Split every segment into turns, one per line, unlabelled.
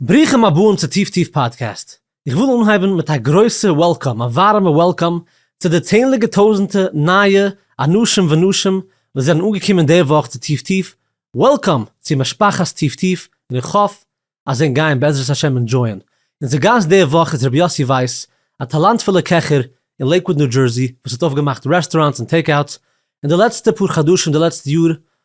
ברוכים הבאים צו טיף טיף פאדקעסט. איך וויל אנהייבן מיט א גרויסע וועלקאם, א ווארעמע וועלקאם, צו די צענדליגע טויזענטע נייע אנשים ונשים וואס זענען אנגעקומען די וואך צו טיף טיף, וועלקאם צו משפחת טיף טיף, און איך האף אז זיין גייען בעזרת השם אינדזשויען. אונזער גאסט די וואך איז רבי יאסי ווייס, א טאלאנטפולע קעכער אין לעיקוואד ניו דזשערסי וואס האט אויפגעמאכט רעסטוראנטס און טעיק אוטס אין די לעצטע פאר חדשים די לעצטע יאר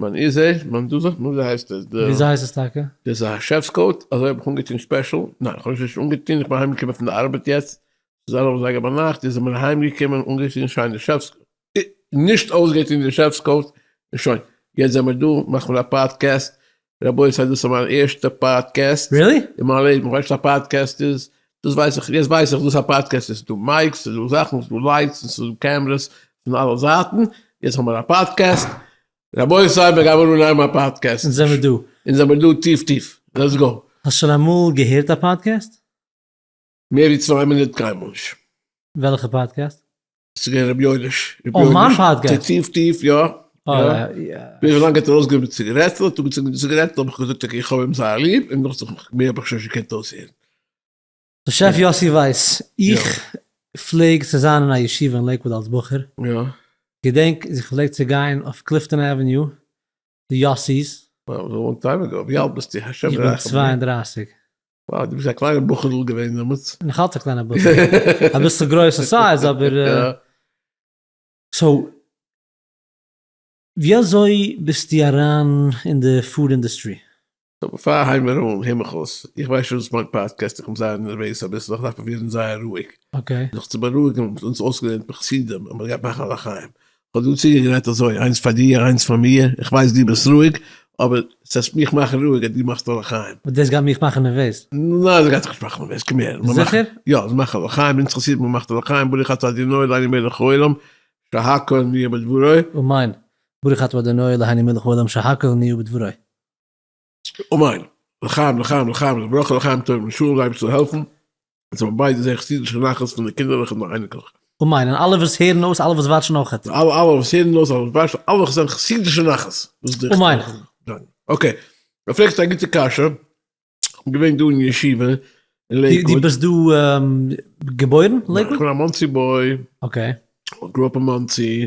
מען איז זיי, מען דו זאגט מיר וויאזוי הייסט עס? וויאזוי הייסט עס טאקע? דאס איז א שעפס קאוט, אזוי האב איך אנגעטון ספעשל, ניין איך האב עס נישט אנגעטון, איך בין אהיים געקומען פון די ארבעט יעצט, ס'איז אלף אזייגער ביינאכט, יעצט זעמיר אהיים געקומען, אנגעטון שיינע שעפס קאוט, אה, נישט אויסגעטון די שעפס קאוט, און שוין, יעצט זעמיר דא, מאכט מען א פאדקעסט, רבותי דאס איז מיין ערשטע פאדקעסט, רילי? אין מיין לעבן, כ'ווייס נישט וואס א פאדקעסט איז, דאס ווייס איך, יעצט ווייס איך דאס איז א פאדקעסט, עס איז דא מייקס, עס איז דא זאכן, עס איז דא לייטס, עס איז דא קעמרעס פון אלע זייטן, יעצט האבן מיר א פאדקעסט, רבותי מיר גיימער אנהייבן א פאדקעסט, אונז זעמער דא, אונז זעמער דא טיף טיף, לעטס גאו. האסט שוין אמאל געהערט א פאדקעסט? מער ווי צוויי מינוט קיינמאל נישט. וועלכע פאדקעסט? ס'איז געווען רבי יואליש. אויף מיין פאדקעסט? טיף טיף, יא. וויאזוי לאנג האט ער אויסגעגעבן ציגערעטל? האט ער אנגעצינדן די ציגערעטל האב איך געזאגט אקעי איך האב אים זייער ליב, און נאך זאכן מער האב איך שוין נישט געקענט אויסהערן. שף יאסי ווייס, איך פלעג צו זיין אין א ישיבה אין לעיקוואוד אלס בחור, געדענק איך פלעג צו גיין אויף קליפטאן עוועניו די יאסי'ס. וואו איז לאנג טיים אגאו? ווי אלט ביסטו? השם ירחם. איך בין צוויי און דרייסיג. וואו, דו ביסט א קליינע בחור'ל געווען דעמאלטס. נאך אלץ א קליינע בחור'ל. אביסל גרויס אין סייז אבער. סאו, ווי אזוי ביסטו אריין אין די פוד אינדוסטרי? פאר הייב מיר אן, הער מיך אויס, איך ווייס שוין וואס מיינט פאדקעסט, איך בין זייער נערוועז אביסל, איך דארף פרובירן זייער רואיג. זיך צו בארואיגן האבן אונז אויסגעלערנט די חסידים אז מען גייט מאכן א לחיים, איך האב דא צוגעגרייט אזוי, איינס פאר דיר איינס פאר מיר, איך ווייס דו ביסט רואיג, אבער ס'עסט מיך מאכן רואיג אז דו מאכסט א לחיים. אבער דאס גייט מיך מאכן נערוועז. ניין, ס'גייט דיך נישט מאכן נערוועז, קום הער, מען מאכט, זיכער? יא, מען מאכט א לחיים, אונז חסידים מען מאכט א לחיים, ברוך אתה אדוני אלהינו מלך העולם שהכל נהיה בדברו. אמן, ברוך אתה אדוני אלהינו מלך העולם שהכל נהיה בדברו. אמן! לחיים לחיים לחיים לברכה לחיים טובים ושלום זיי אייבערשטער העלפן אז מיר ביידע זעהן חסידישע נחת פון די קינדערלעך און די אייניקלעך. אמן און אלע וואס הערן אויס אלע וואס וואטשן אויכעט. אלע אלע וואס הערן אויס אלע וואס וואטשן אלע וואס זענען חסידישע נחת דאס איז די עיקר. אמן. אקעי, דו פרעגסט א גוטע קשיא, כ'בין געווען דא אין ישיבה אין לעיקוואד. דו ביסט דא געבוירן? לעיקוואד? איך בין א מאנסי בוי. אקעי. גראו אפ אין מאנסי.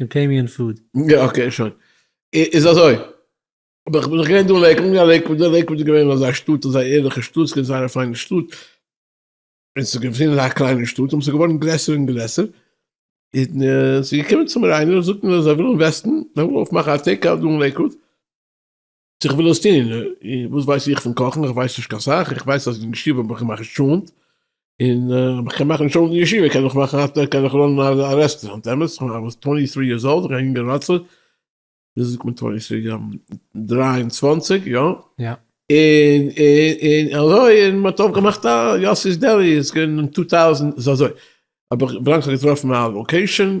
און פעי מי און פוד. יא אקעי שוין. איז אזוי. אבער כ'בין דאך געווען דא אין לעיקוואד, יא לעיקוואד, לעיקוואד איז געווען אזא שטאט, אזא ערליכע שטאט, ס'איז געווען זייער א פיינע שטאט, און ס'איז געווען אזא קליינע שטאט, און ס'איז געווארן גרעסער און גרעסער, און ס'איז געקומען צו מיר איינער און זאגט מיר אז זיי ווילן וועסטן, זיי ווילן אויפמאכן א טעיק אוט דא אין לעיקוואד, צו איך וויל עס טון, וואס ווייס איך פון קאכן, איך ווייס נישט קיין סאך, איך ווייס אז אין ישיבה האב איך געמאכט טשולנט, און אויב איך קען מאכן טשולנט אין ישיבה קען איך מאכן, קען איך ראנען א רעסטעראונט, אמת? איך בין דעמאלס טווענטי טרי יערס אולד, איך בין א יונגער ראצער, ווי אזוי זאגט מען טווענטי טרי, דרײַ און צוואַנציק, יא? יא. און און אזוי און מ'האט אויפגעמאכט א יאסי'ס דעלי, עס איז געווען אין טו טאוזענד, ס'איז אזוי, אבער ווילאנג איך האב געטראפן א לאקעישאן,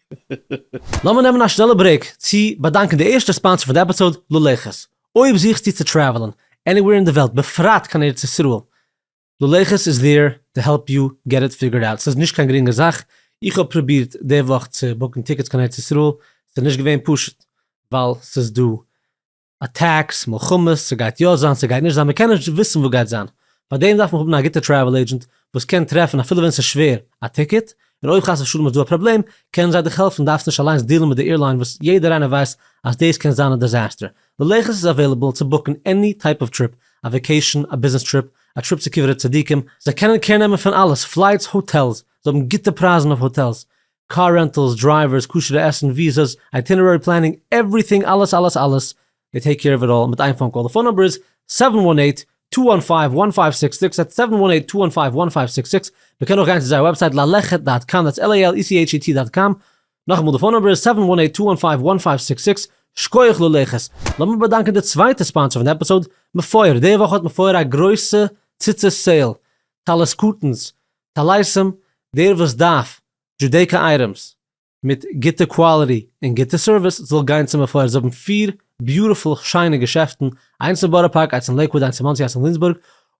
לאמיר נעמען א שנעלע ברעיק צו באדאנקען די ערשטע ספאנסער פון די עפיסאוד, לולייכעס. אויב זוכסטו צו טרעוולען עניוועיר אין די וועלט בפרט קיין ארץ ישראל, לולייכעס איז דעיר טו העלפ יו געט איט פיגערד אוט. ס'איז נישט קיין גרינגע זאך, איך האב פרובירט די וואך צו בוקן טיקעטס קיין ארץ ישראל, ס'איז נישט געווען פשוט ווייל ס'איז דא אטעקס, מלחמות, ס'גייט יא זיין, ס'גייט נישט זיין, מ'קען נישט וויסן וואס גייט זיין, פאר דעם דארף מען האבן א גוטע טרעוול עידזשענט וואס קען טרעפן אפילו ווען ס'איז שווער א טיקעט, און אויב חס ושלום איז דא א פראבלעם קענען זיי דיך העלפן, דארפסט נישט אליינס דיעלן מיט די עירליין וואס יעדער איינער ווייסט אז דאס קען זיין א דיזעסטער, ללכת איז אוועילעבל צו בוקן עני טייפ אוו טריפ, א וועקעישן, א ביזנעס טריפ, א טריפ צו קברי צדיקים, זיי קענען קער נעמען פון אלעס, פלייטס, האטעלס, זיי האבן גוטע פרייזן אויף האטעלס, קאר רענטעלס, דרייווערס, כשר'ע עסן, וויזעס, אייטינערערי פלענינג, עווריטינג, אלעס אלעס אלעס, דעי טעיק קעיר אוו איט אלל מיט איין פאון קאל, די פאון נומבער איז, סעווען וואן עיט, טו וואן פייוו, וואן פייוו סיקס סיקס, דעטס סעווען וואן עיט, טו וואן פייוו, וואן פייוו סיקס סיקס, מען קען אויך גיין צו זייער וועבסייט לאלעכעט דאט קאם, דעטס על איי על אי סי עיטש אי טי דאט קאם, נאכאמאל די פאון נומבער איז, סעווען וואן עיט, טו וואן פייוו, וואן פייוו סיקס סיקס, שקויעך לאלעכעס, לאמיר באדאנקען די צווייטע ספאנסער פון די עפיסאוד, מפואר, די וואך האט מפואר א גרויסע ציצית סעיל, טלית קטן'ס, טעלערסאם, דער וואס דארף דזשודעיקא אייטעמס מיט גוטע קוואליטי און גוטע סערוויס זאל גיין צו מפואר, זיי האבן פיר ביוטיפול שיינע געשעפטן, איינס אין בארא פארק, איינס אין לעיקוואד, איינס אין מאנסי, איינס אין ווילימסבורג,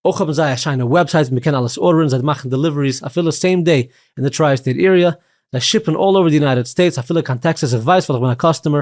אויך האבן זיי א שיינע וועבסייט ווי מ'קען אלעס ארדערן, זיי מאכן דעליוועריס אפילו סעים דעי אין די טריי סטעיט עיריע, זיי שיפן אלל אווער די יונייטעד סטעיטס אפילו קיין טעקסעס איך ווייס ווייל איך בין א קאסטומער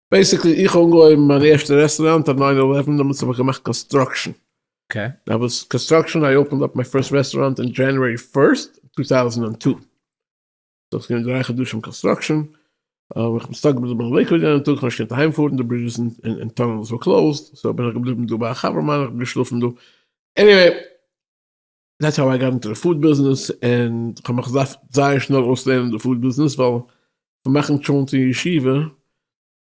בעיסיקלי איך האב אנגעהויבן מיין ערשטע רעסטוראנט אויף ניין עלעווען דעמאלטס האב איך געמאכט קאנסטראקשען, אויף וואס קאנסטראקשען איי אפענד אפ מיין פירסט רעסטוראנט אין דזשענערעי פירסט טו טאוזענד אנד טו, סאו ס'געווען דרײַ חדשים קאנסטראקשען, איך בין סטאק געבליבן אין לעיקוואד יענעם טאג, איך האב נישט געקענט אהיים פארן די ברידזשעס און טונעלס וואר קלאוזד, סאו בין איך געבליבן דא ביי א חבר מיינער, איך בין געשלאפן דא, עניוועי. דעטס האו איי גאט אינטו די פוד ביזנעס, און כ'האב מיך געדארפט זייער שנעל אויסלערנען די פוד ביזנעס, ווייל פון מאכן טשולנט אין ישיבה, און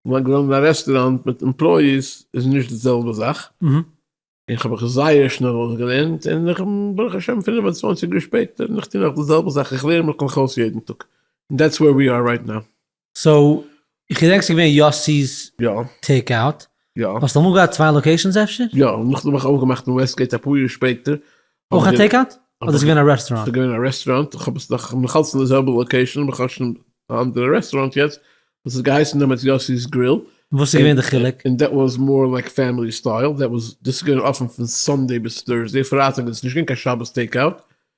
זיין געווען אין א רעסטוראנט מיט עמפלויאיס איז נישט די זעלבע זאך, און כ'האב מיך זייער שנעל אויסגעלערנט, און איך בין ברוך השם פֿינף און צוואַנציק יאר שפעטער און איך טוה נאך די זעלבע זאך, איך לערן מיך נאך אויס יעדן טאג, און דעטס ווער ווי אר רייט נאו. סאו איך געדענק ס'איז געווען יאסי'ס יא טעיק אוט, יא האסט אמאל געהאט צוויי לאקעישאנס אפשר? יא, נאכדעם האב איך אויפגעמאכט אין וועסטגעיט אפאר יאר שפעטער. אויך א טעיק אוט? אדער איז געווען א רעסטוראנט? ס'איז געווען א רעסטוראנט, איך האב עס נאך, כ'בין נאכאלץ אין די זעלבע לאקעישאן אבער כ'האב שוין א אנדערע רעסטוראנט יעצט, וואס האט געהייסן דעמאלטס יאסי'ס גריל. וואס איז געווען די חילוק? און דעט וואס מאר לייק פעמילי סטייל, דעט וואס, דאס איז געווען אפען פון סאנדעי ביז טורסדעי, פרייטאג איז עס נישט געווען קיין שבת טעיק אוט.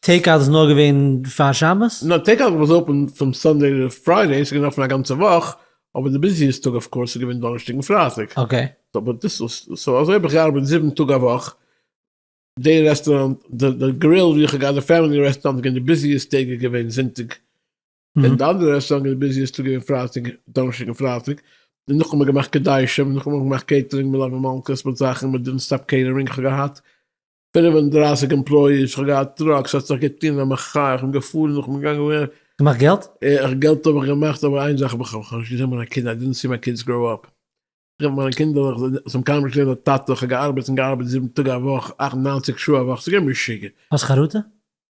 טעיק אוט איז נאר געווען פאר שבת? נאר טעיק אוט וואס איז אפען פון סאנדעי רוף פריידעי, ס'איז געווען אפען א גאנצע וואך, אבער די ביזיעסט טאג אויף קאורס איז געווען דאנערשטאג און פרייטאג, אקעי. אבער דאס איז, סאו אזוי האב איך געארבעט זיבן טאג א וואך, די רעסטוראנט, די גריל ווי איך האב געהאט די פעמילי רעסטוראנט איז געווען די ביזיעסט טעג איז געווען זונטאג, און די אנדערע רעסטוראנט איז די ביזיעסט טאג געווען פרייטאג, דאנערשטאג און פרייטאג, און נאך האבן מיר געמאכט קדשים, נאך האבן מיר געמאכט קעיטערינג, מלוה מלכה'ס מיט זאכן, מ'דינט סטאפ קעיטערינג איך האב געהאט, פֿינף און דרײַסיק עמפּלאָיִעס, כ'האָב געהאַט טראָק, ס'האָט זיך געטאָן אַ מחאה, איך בין געפֿאָרן, איך בין געגאַנגען און. געמאַכט געלט? אַ, געלט האָב איך געמאַכט, אָבער איין זאַך האָב איך, כ'האָב נישט געזען מײַנע קינדער, אַי דידנט סי מײַ קידס גראָו אָפּ. איך האָב מײַנע קינדער, איך זאָל, זיי האָבן קיינמאָל נישט געזען אַ טאַטע, איך האָב געאַרבעט און געאַרבעט זיבן טאָג אַ וואָך, אַכט, נײַנציק שעה אַ וואָך, ס'איז געווען משוגע. האָסט חרטה?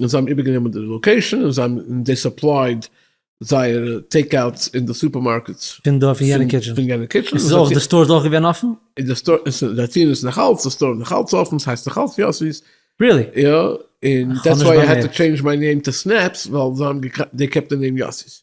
און זיי האבן איבערגענומען די לאקעישאן און זיי האבן זיי סופלייד זייערע טעיק אוטס אין די סופערמארקעטס פון דארט פון יענע קיטשען, פון יענע קיטשען, איז אויך די סטאר איז אויך געווען אפען? איז די סטאר איז זיי טוען עס נאך אלץ די סטאר איז נאך אלץ אפען ס'הייסט נאך אלץ יאסי'ס. ריעלי? יא און דעטס וויי איי העד טו טשעינדזש מיי נעים טו סנעפס ווייל זיי האבן געקעפט די נעים יאסי'ס.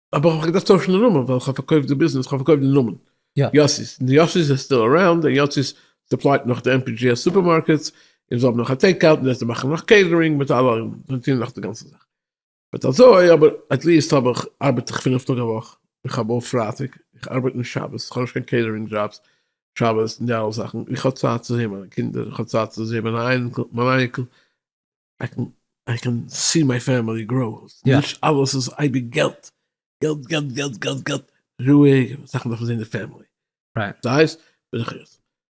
אבער איך האב געדארפט טוישן די נאמען ווייל איך האב פארקויפט די ביזנעס, איך האב פארקויפט די נאמען יאסי'ס, און די יאסי'ס איז סטיל אראונד, און יאסי'ס סופלייט נאך די MPGS סופערמארקעטס, און זיי האבן נאך א טעיק אוט, און יעצט זיי מאכן נאך קעיטערינג מיט אלע, זיי טוען נאך די גאנצע זאך. בעת אזוי, אבער עטליעסט האב איך, ארבעט איך פינף טאג א וואך, איך האב אויף פרייטאג, איך ארבעט נישט שבת, איך האב נישט קיין קעיטערינג דזשאבס שבת און די אלע זאכן, איך האב צייט צו זעהן מיינע קינדער, איך האב צייט צו זעהן מיין אייניקל, איי קען סי מיי פעמילי גראו, נישט אלעס איז אייביג געלט, געלט געלט געלט געלט געלט, רואיג, זאכן דארף מען זען די פעמילי,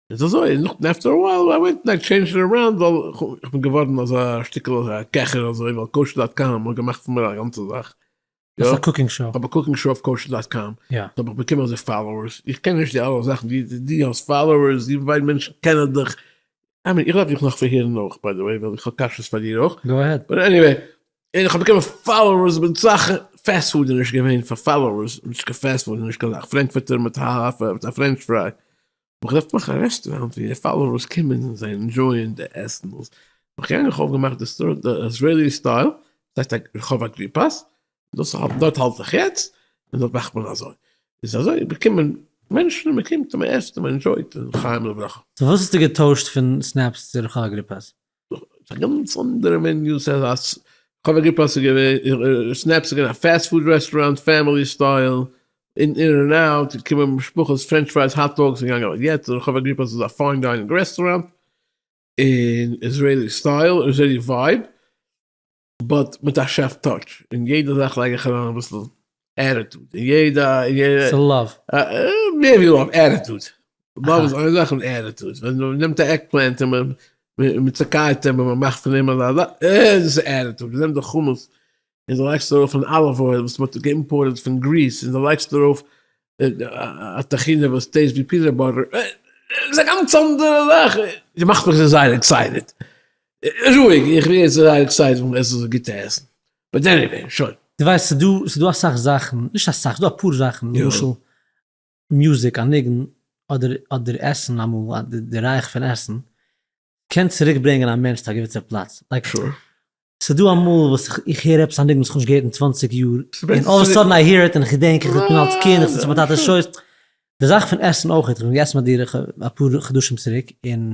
סאיז אזוי, און נאכדעם עפטער א ווייל איי ווענט און טשעינדזשד איט אראונד, ווייל איך בין געווארן אזא שטיקל קעכער אזוי, ווייל קאושער דאט קאם האט געמאכט פון מיר א גאנצע זאך. האסט א קוקינג שאו? כ'האב א קוקינג שאו אויף קאושער דאט קאם, און כ'האב באקומען אזוי פאלאוערס, איך קען נישט די אלע זאכן, דו האסט פאלאוערס, דו ווייל מענטשן קענען דיך, עמי איך דארף דיך נאך פארהערן אויך ביי די וועי, ווייל איך האב קאשעס פאר דיר אויך, גאו אהעד, און עניוועי, און כ'האב באקומען פאלאוערס, כ'בין סאך פעסווארדעניש געווען פאר פאלאוערס, נישט קיין פעסווארד, נישט קיין זאך, פרענקפורטער מיט א פרענטש פריי, איך רוף מיך א רעסטוראנט ווי די פאלאוערס קומען און זיי ענדשויען די עסן וואס איך גענג איך האב געמאכט די סטאר די איזרעילי סטייל ס'הייסט א רחוב אגריפס דאס האב דארט האלט איך יעצט און דארט מאכט מען אזוי איז אזוי באקומען מענטשן און מ'קומט און מ'עסט און מ'ענדשויט און לחיים ולברכה. סאו וואס האסטו געטוישט פון סנעפס צו רחוב אגריפס? ס'איז א גאנץ אנדערע מין יו ס א ס כ'האב א געפאסט ס'איז געווען סנעפ ס'איז געווען א פעסט פוד רעסטוראנט פעמילי סטייל אין אין און אוט געקומען משפחות פרענטש פרייס האט דאגס און געגאנגען יעצט כ'האב א געפאסט ס'איז א פיין דיינינג רעסטוראנט אין איזרעילי סטייל איזרעילי ווייב. באט מיט א שעף טאטש, אין יעדע זאך לייג איך אריין אביסל עטיטוד, אין יעדע, אין יעדע, ס'איז לאוו. מער ווי לאוו, עטיטוד, לאוו איז איין זאך און עטיטוד, ווען מ'נעמט א עגפלענט און מ'צוקייעט אים און מ'מאכט פון אים אזא זאך, דאס איז עטיטוד, מ'נעמט די חמץ און דו לייגסט ארויף אן אליוו אויל וואס מ'האט געאימפארטעד פון גריס און דו לייגסט ארויף א טחינה וואס טעיסט ווי פינאט באטער, דאס איז א גאנץ אנדערע זאך, דו מאכסט מיך זייער עקסייטעד. רואיג, איך ווער יעצט זייער עקסייטעד פון עסן אזוי גוטע עסן, באט עניוועי, שוין. דו ווייסט ס'איז דא ס'איז דא אסאך זאכן, נישט אסאך, ס'איז דא אפאר זאכן למשל מוזיק, א ניגון, אדער אדער עסן אמאל א די די רייך פון עסן קען צוריק ברענגען א מענטש צו א געוויסע פלאץ, לייק ס'איז דא אמאל וואס איך איך הער עפעס א ניגון וואס כ'האב נישט געהערט אין צוואנציג יאר, און אלל אוו א סאדען איי העיר איט און איך געדענק איך בין אלס קינד איך זיץ אין מיין טאטע'ס שויס, די זאך פון עסן אויכעט, כ'בין געסן ביי דיר אפאר חדשים צוריק און.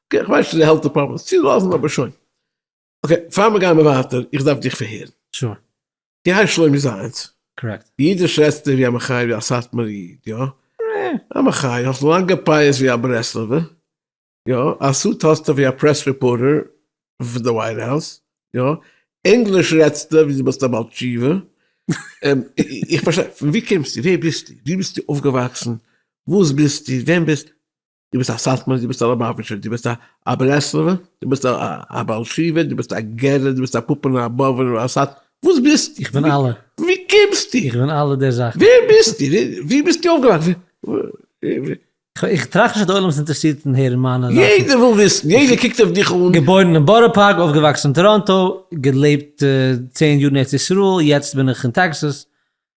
אקעי, כ'ווייס שוין די העלט דעפארטמענט צו לאזן אבער שוין. אקעי, פאר מיר גייען ווייטער, איך דארף דיך פארהערן. שור. די הייסט שלומי זייענס. קארעקט. ווי אידיש רעדסטו ווי א מחי ווי א סאטמאר איד, יא? אה. א מחי, האסט לאנג געפייעסט ווי א ברסלב'ער, יא? א סוט האסטו ווי א פרעס ריפארטער פון די ווייט האוז, יא? ענגליש רעדסטו ווי דו ביסט א בעל תשובה. און איך פארשטיי, פון ווי קומסטו? ווער ביסטו? ווי ביסטו אויפגעוואקסן? וואס ביסטו? ווען ביסטו? דו ביסט א סאטמארער, דו ביסט א לאבאוויטשער, דו ביסט א ברסלב'ער, דו ביסט א בעל תשובה, דו ביסט א גערער, דו ביסט א פאפענער, א באבענער, א סאט, וואס ביסטו? איך בין אלע. ווי קומסטו? איך בין אלע די זאכן. ווער ביסטו? וואו ביסטו אויפגעוואקסן? איך טראכט נישט אז די עולם איז אינטערעסירט אין הערן מיינע זאכן. יעדער וויל וויסן, יעדער קוקט אויף דיך אן. געבוירן אין בארא פארק, אויפגעוואקסן אין טאראנטא, געלעבט צען יאר אין ארץ ישראל, יעצט בין איך אין טעקסאס,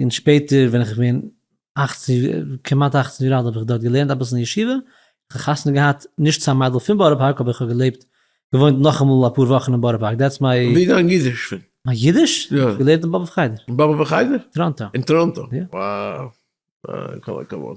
און שפעטער ווען איך בין אַכצן כמעט אַכצן יאר אלט האב איך דארט געלערנט אביסל אין ישיבה, איך האב חתונה געהאט נישט צו א מיידל פון בארא פארק אבער איך האב געלעבט געוואוינט נאכאמאל אפאר וואכן אין בארא פארק דעטס מיי. ווי איז דיין אידיש פון? מיין אידיש? יא. געלערנט אין באבוב חדר. באבוב חדר? טראנטא. אין טראנטא? יא. וואו. כל הכבוד.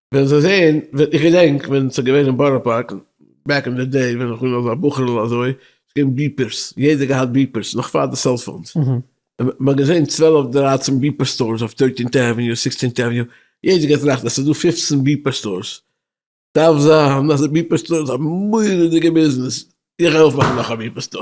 וועלן זיי זעהן, ווען איך געדענק ווען ס'איז געווען אין בארא פארק, בעק אין די דעי ווען איך בין נאך א בחור'ל אזוי, ס'איז געווען ביפערס, יעדער געהאט ביפערס, נאך פאר די סעלפאונס, מ'האט געזעהן צוועלף דרייצן ביפער סטארס אויף טוירטינט עוועניו, סיקסטינט עוועניו, יעדער האט געטראכט אז ס'איז דא פופצן ביפער סטארס, דארף זיין אז די ביפער סטאר איז א מורא'דיגע ביזנעס, איך העלף מאכן נאך א ביפער סטאר.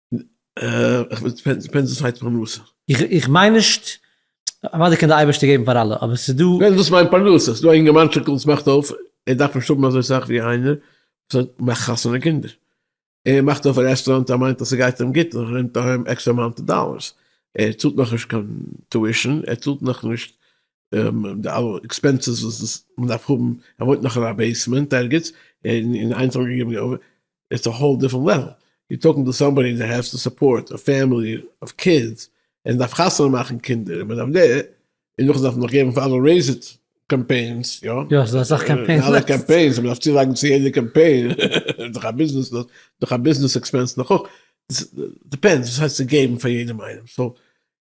איך מיין נישט, אוודאי קען די אייבערשטער געבן פאר אלע, אבער עס איז דא. ווען דאס מיינט פרנסה, עס איז דא א אינגערמאנטשיקל וואס מאכט אויף, ער דארף נישט האבן אזוי סאך ווי איינער וואס מאכט חתונה און קינדער, ער מאכט אויף א רעסטוראנט, ער מיינט אז עס גייט אים גוט, ער נעמט אהיים עקסטער אמאונט דאללערס, ער צאלט נאכנישט קיין טואישען, ער צאלט נאכנישט די אלע עקספענסעס וואס מען דארף האבן, ער וואוינט נאך אין א בעיסמענט ערגעץ, און אין איינס האט מען געגעבן די אויבער, איטס א האול דיפרענט לעוועל, יו אר טאלקינג טו סאמבאדי דעט העז טו סופארט א פעמילי אוו קידס, און דארף חתונה מאכן קינדער, און מען דארף דער, און נאכדעם דארף מען נאך געבן פאר אלע רעיז איט קאמפיינס, יא? יא, ס'איז דא אסאך קאמפיינס. אלע קאמפיינס, מען דארף צולייגן צו יעדע קאמפיין, איז דאך א ביזנעס, דאך א ביזנעס עקספענס נאך אויך, דיפענדס וואס הייסט צו געבן פאר יעדעם איינעם, סאו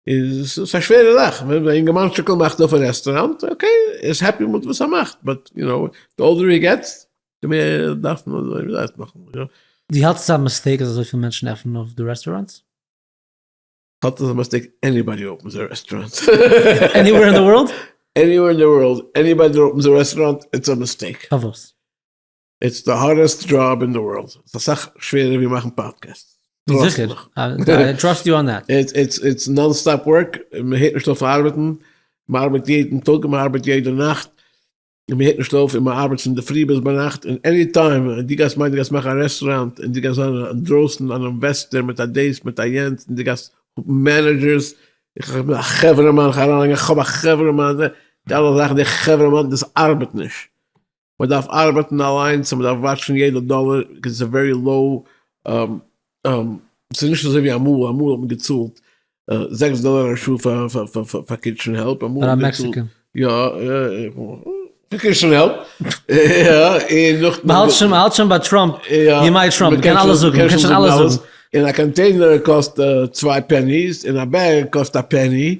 איז עס א שווערע זאך, ווען א אינגערמאנטשיקל מאכט אויף א רעסטוראנט, אקעי, ער איז העפי מיט וואס ער מאכט, באט יו נאו, די אולדער הי געטס, די מער דארף מען אזוי, וויאזוי זאגט מען, יא. דו האלסט ס'איז א מיסטעיק אז אזויפיל מענטשן עפענען אויף די רעסטוראנטס? כ'האלט אז ס'איז א מיסטעיק עניבאדי אפענס א רעסטוראנט. עניוועיר אין די ווארלד? עניוועיר אין די ווארלד, עניבאדי דארט אפענס א רעסטוראנט, איטס א מיסטעיק. פארוואס? איטס די הארדעסט דזשאב אין די ווארלד, ס'איז אסאך שווערער ווי מאכן פאדקעסטס, טראסט זיכער, מיך, איי טראסט יו אן דעט. איטס איטס איטס נאן סטאפ ווארק, מ'הערט נישט אויף ארבעטן, מ'ארבעט יעדן טאג און מ'ארבעט יעדע נאכט, און מ'הערט נישט אויף, און מ'ארבעט פון די פרי ביז ביינאכט, און עני טיים דו גייסט מיינען דו גייסט מאכן א רעסטוראנט און דו גייסט זיין אינדרויסן אן אינוועסטער מיט א דעיס מיט א יענץ און דו גייסט האבן מענעדזשערס, איך בין א חברה מאן, איך האב א חברה מאן, די אלע זאכן די חברה מאן דאס ארבעט נישט, מען דארף ארבעטן אליינס און מען דארף וואטשן יעדע דאלער קעז איטס א ווערי לאו ס'איז נישט אזוי ווי אמאל, אמאל האט מען געצאלט זעקס דאלער א שעה פאר קיטשען העלפ, פאר א מעקסיקען? יא, פאר קיטשען העלפ, יא, און נאך, מען האלט שוין, מען האלט שוין ביי טראמפ, יא, ימי טראמפ, מען קען אלעס זאגן, מען קען שוין אלעס זאגן. און א קאנטעינער קאסט צוויי פעניס און א בעג קאסט א פעני,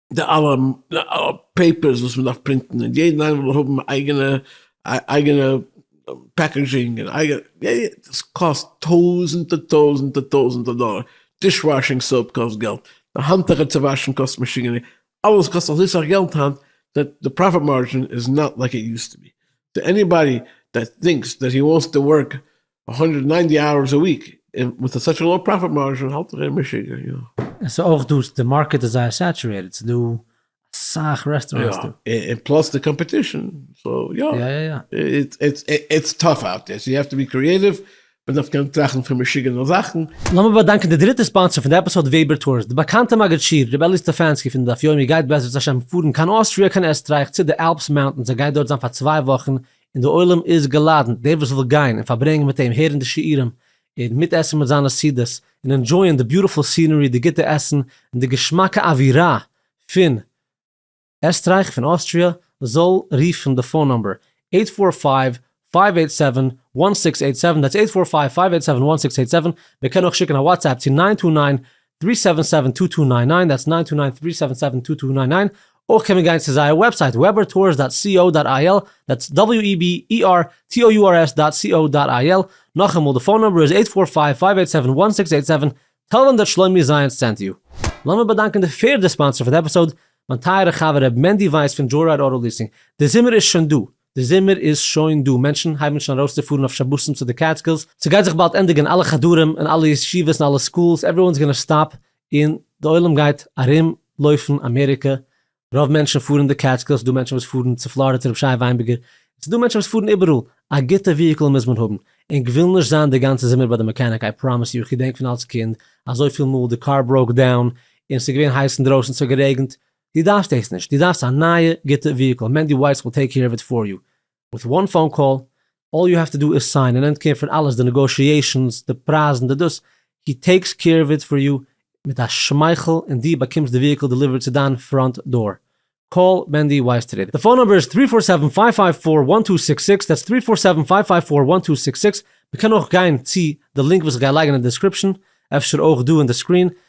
די אלע פעיפערס וואס מען דארף פרינטן און יעדן איינעם וויל האבן אייגענע אייגענע פעקעזשינג און אייגענע עס קאסט טויזענטער טויזענטער טויזענטער דאלער, דיש וואשינג סאופ קאסט געלט, די האנטוכער צו וואשן קאסט משוגענע, אלעס קאסט אזוי סאך געלט היינט דעט די פראפיט מארדזשין איז נאט לייק איט יוזט טו בי, סאו עניבאדי דעט טינקס דעט הי וואנטס טו ווארק הונדערט ניינטי אוערס א וויק און מיט אזאך לאו פראפיט מארזשין האלט איך ער משוגע יא. עס איז אויך דא די מארקעט איז זייער סעטורעטעד ס'איז דא אסאך רעסטוראנטס דא. יא און פלאס די קאמפעטישן סאו יא איטס טאף אוט דער סאו יו העוו טו בי קריעטיוו מען דארף קענען טראכטן פון משוגענע זאכן. לאמיר באדאנקען די דריטע ספאנסער פון די עפיסאד וועבער טורס, די באקאנטע מגיד שיעור ר' אלי' סטעפאנסקי פון די דף יומי גייט בעזרת השם פארן קיין אוסטריא קיין עסטרייך צו די אלפס מאונטענס ער גייט דארט זיין פאר צוויי וואכן און דער עולם איז געלאדענט, דער וואס וויל גיין און פארברענגען מיט אים, הערן די שיעורים, און מיטעסן מיט זיינע סעודות, און ענדזשויען די ביוטיפול סינערי, די גוטע עסן, און די געשמאקע אווירה פון עסטרייך, פון אוסטריא, זאל רופן די פאון נומבער, אייט פאר פייוו, פייוו אייט סעווען, וואן סיקס אייט סעווען, דעטס אייט פאר פייוו, פייוו אייט סעווען, וואן סיקס אייט סעווען, מען קען אויך שיקן א וואטסעפפ צו ניין טו ניין, טרי סעווען סעווען טו טו ניין ניין, דעטס ניין טו ניין טרי סעווען סעווען טו טו ניין ניין, אויך קען מען גיין צו זייער וועבסייט webertours דאט סי או דאט איי על, דעטס דאבעליו אי בי אי אר טי או יו אר עס דאט סי או דאט איי על, נאכאמאל די פאון נומבער איז עיט פאר פייוו פייוו עיט סעווען וואן סיקס עיט סעווען, טעל דעם דעט שלומי זייענס סענט יו. לאמיר באדאנקען די פערדע ספאנסער פאר די עפיסאוד, מיין טייערע חבר ר' מענדי ווייס פון דזשוי רייד אוטו ליסינג, די זומער איז שוין דא, די זומער איז שוין דא, מענטשן הייבן שוין ארויסצופארן אויף שבתים צו די קעטסקילס, ס'גייט זיך באלד ענדיגן אלע חדרים און אלע ישיבות און אלע סקולס, עווריוואנס גאנא סטאפ, און די עולם גייט ארום לויפן אמעריקע, רוב מענטשן פארן די קעטסקילס, ס'דא מענטשן וואס פארן צו פלארידע צו רבי שי וויינבערגער, און ס'דא מענטשן וואס פארן איבעראל, א גוטע וויהיקל מוז מען האבן, און כוויל נישט זיין די גאנצע זומער ביי די מעקעניק, איי פראמיס יו, כ'געדענק פון אלס קינד אזויפיל מאל די קאר בראוק דאון און ס'איז געווען הייס אינדרויסן, ס'האט גערעגנט, דו דארפסט דאס נישט, דו דארפסט א נייע גוטע וויהיקל, מענדי ווייס וויל טעיק קעיר אוו איט פאר יו, וויט וואן פאון קאל, אלל יו העוו טו דו איז סיין און ענד קעיר פון אלעס די נעגאושיעישאנס, די פרייזן, די דאס, הי טעיקס קעיר אוו איט פאר יו מיט א שמייכל און דו באקומסט די וויהיקל דעליווערט צו דיין פראנט דאר. קאל מענדי ווייס טודי. די פאון נומבער איז טרי פאר סעווען פייוו פייוו פאר וואן טו סיקס סיקס, דעטס טרי פאר סעווען פייוו פייוו פאר וואן טו סיקס סיקס, מען קען אויך גיין צו די לינק וואס איך גיי לייגן אין די דעסקריפשאן, אפשר אויך דא אין די סקרין,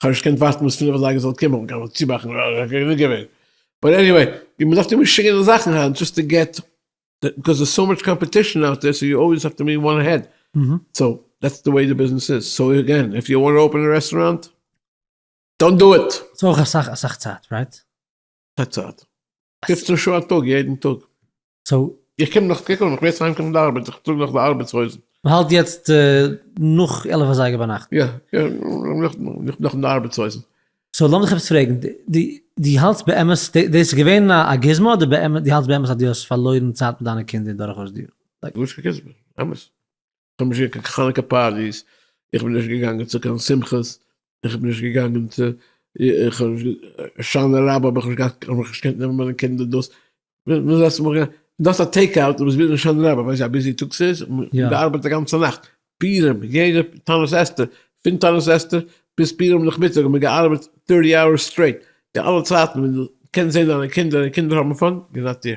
כ'האב נישט געקענט ווארטן ביז פֿינף אזייגער זאל קומען, כ'קען נאך צובאקן, כ'קען נישט געווען. באט עניוועי, ווי מען דארף תמיד שיקן די זאכן היינט דזשאסט טו געט, ביקאוז דערס סאו מאטש קאמפעטישן אוט דער, סאו יו אלוועיס האב טו בי וואן אהעד, סאו דעטס די וועי די ביזנעס איז, סאו אגעין, איף יו וואנט אפען א רעסטוראנט, דאנט דו איט! ס'איז אויך אסאך אסאך צייט, רייט? ס'איז צייט. פֿופֿצן שעה א טאג יעדן טאג. סאו. איך קום נאך צוריק און איך מוז אהיימקומען פון די ארבעט, איך טראג נאך די ארבעטס הויזן. מ'האלט יעצט נאך עלף אזייגער ביינאכט. יא, יא, נאך די ארבעטס הויזן. סאו לאמיך עפעס פרעגן, דו האלטסט באמת, דאס איז געווען א גוזמא אדער באמת, דו האלטסט באמת אז דו האסט פארלוירן צייט מיט דיינע קינדער דורכאויס די יארן? גארנישט קיין גוזמא, אמת. כ'האב נישט געקוקט קיין חנוכה פארטיס, איך בין נישט געגאנגען צו קיין שמחות, איך בין נישט געגאנגען צו, איך האב נישט, הושענא רבה האב איך נישט געהאט, איך האב מיך נישט געקענט נעמען מיט מיינע קינדער דאס, וויאזוי האסטו מיך גענומען, דו האסט א טעיק אוט, דו ביסט ביזי הושענא רבה, ווייסט ווי א ביזי טאג ס'איז, מען ארבעט א גאנצע נאכט, פורים, יעדע תענית אסתר, פון תענית אסתר ביז פורים נאכמיטאג האט מען געארבעט טערטי אוערס סטרעיט, די אלע צייטן ווען דו קענסט זען דיינע קינדער און די קינדער האבן פאן, געזאט איר.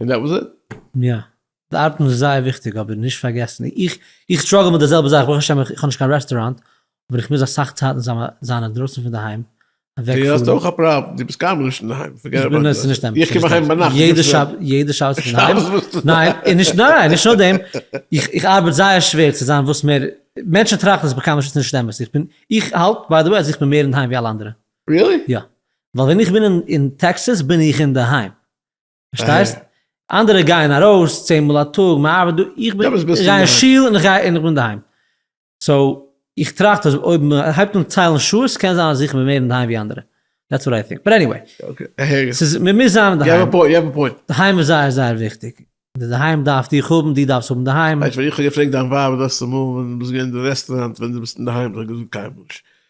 און דעט וואס איט. יא. די ארבעטן איז זייער וויכטיג אבער נישט פארגעסן איך איך סטראגל מיט די זעלבע זאך ברוך השם איך האב נישט קיין רעסטוראנט אבער איך מוז אסאך צייטן זיין אינדרויסן פון די היים אוועק פון. די האסט אויך א פראבלעם די ביסט קיינמאל נישט אינדערהיים פארגעט אבאוט דעט. נישט אמת. איך קום אהיים ביינאכט. יעדע שבת יעדע שבת איך בין אינדערהיים. שבת ביסטו אינדערהיים. ניין נישט ניין נישט נאר דעם איך איך ארבעט זייער שווער צו זיין וואס מער מענטשן טראכטן אז איך בין קיינמאל נישט נישט אמת איך בין איך האלט ביי די וועי אז איך בין מער אינדערהיים ווי אלע אנדערע. ריעלי? יא. ווייל ווען איך בין אין טעקסעס בין איך אינדערהיים. פארשטייסט? אנדערע גייען ארויס צען מאל א טאג, מען ארבעט דא, איך בין, איך גיי אין שול און איך גיי און איך בין אינדערהיים. סאו, איך טראכט אז אויב מען הייבט אן ציילן שעות קען זיין אז איך בין מער אינדערהיים ווי אנדערע. דעטס וואט איי טינק. באט עניוועי. ס'איז, מען מוז זיין אינדערהיים. יו האוו א פוינט, יו האוו א פוינט. אינדערהיים איז זייער זייער וויכטיג. אינדערהיים דארף דיך האבן, דו דארפסט האבן אינדערהיים. ווייסט ווען איך האב געפרעגט דיין ווייב דאס צומאל ווען דו ביסט געווען אין די רעסטוראנט ווען דו ביסט אינדערהיים, זי האט געזאגט קיינמאל נישט.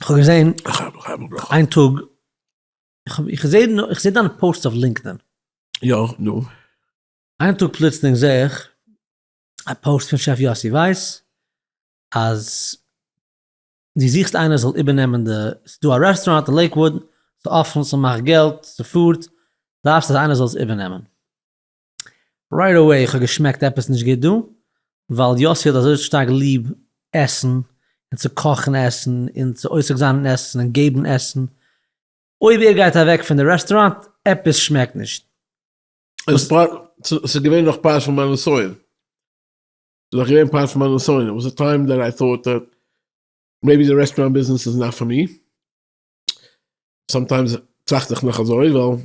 כ'האב געזען איין טאג, איך זע איך זע דיינע פאוסטס אויף לינקדאין. יא, נו. איין טאג פלוצלינג זע איך א פאוסט פון שעף יאסי ווייס אז דו זוכסט איינער זאל איבערנעמען די, ס'איז דא א רעסטוראנט אין לעיקוואוד, ס'איז אפן, ס'מאכט געלט, ס'פארט, דארפסט אז איינער זאל עס איבערנעמען. רייט עוועי איך האב געשמעקט עפעס נישט גוט דא, ווייל יאסי האט אזוי שטארק ליב עסן, און צו קאכן עסן, און צו עוסק זיין אין עסן, און געבן עסן, אויב ער גייט אוועק פון די רעסטוראנט, עפעס שמעקט נישט. ס'איז געווען נאך פרשת מן נסיון, ס'איז נאך געווען פרשת מן נסיון, איט וואס א טיים דעט איי טאוט דעט מעיבי די רעסטוראנט ביזנעס איז נאט פאר מי, סאמטיימס טראכט איך נאך אזוי, ווייל.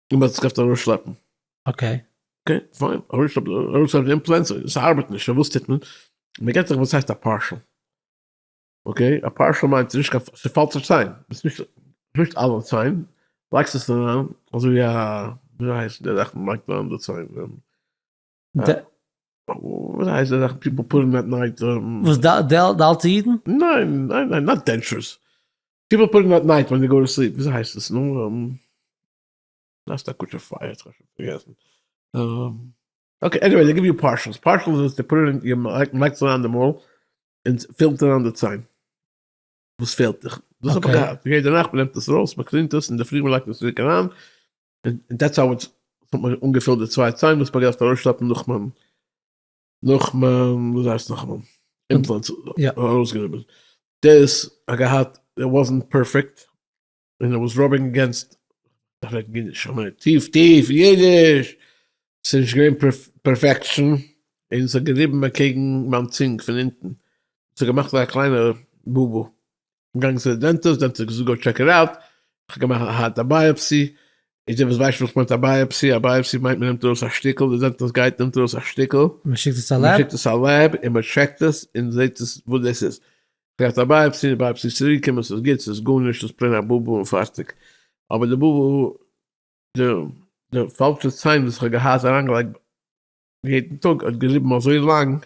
און מען זיך אפט ארויסשלעפן. אקעי. אקעי פיין, ארויסשלעפן ארויסשלעפן די אימפלענטס, ס'ארבעט נישט, וואס טוט מען? מען געט זיך וואס הייסט א פארשעל. אקעי, א פארשעל מיינט נישט קיין, ס'פאלט זיך ציין, ביסט נישט, נישט אלע ציין, לייגסט עס אריין, אזויווי א, וויאזוי הייסט די זאך מען לייגט אריין די ציין? די. וויאזוי הייסט די זאך פיפל פוט אין עט נייט? וואס די אלטע אידן? ניין, ניין, ניין, נאט דענטשורס. פיפל פוטינג דעט נייט ווען זיי גאו טו סליפ, וויאזוי הייסט עס נו, לאזט א קוטשער פייער, איך האב שוין פארגעסן, אקעי עניוועי זיי גיוו יו פארשעלס, פארשעלס איז צו פוט איט און, מ'לייגט עס אריין אין די מויל און ס'פילט אריין די ציין וואס פעלט דיך, דאס האב איך געהאט, יעדע נאכט מ'נעמט עס ארויס מ'קלינט עס אינדערפרי מ'לייגט עס צוריק אריין, און דעטס האו איטס, ס'האט מיר אנגעפילט די צוויי ציין וואס מ'האט געדארפט ארויסשלעפן נאך מיין. נאכמאן וואס הייסט נאכמאן אימפלענטס ארויסגענומען דאס האט געהאט איט וואזענט פערפעקט און איט וואס ראבינג אגעינסט כ'רעד אידיש כ'מיין טיף טיף אידיש ס'איז נישט געווען פערפעקשאן און ס'האט געריבן אקעגן מיין צונג פון אונטן ס'האט געמאכט א קליינע באבעל געגאנגען צו די דענטיסט, דענטיסט האט געזאגט גאו טשעק איט אוט, איך האב געמאכט א הארטע בייאפסי, איז דער וואס ווייסט וואס מיינט א בייאפסי, א בייאפסי מיינט מען נעמט ארויס א שטיקל, די דענטיסט גייט נעמט ארויס א שטיקל, מען שיקט עס א לעב, מ'שיקט עס א לעב און מען טשעקט עס און זעט עס וואס דאס איז, געהאט א בייאפסי, די בייאפסי איז צוריק געקומען ס'איז גוט ס'איז גארנישט ס'איז פלעין א בובו און פארטיג, אבער די בובו די די פאלשע ציין וואס איך האב געהאט אריינגעלייגט יעדן טאג האט געריבן אזוי לאנג,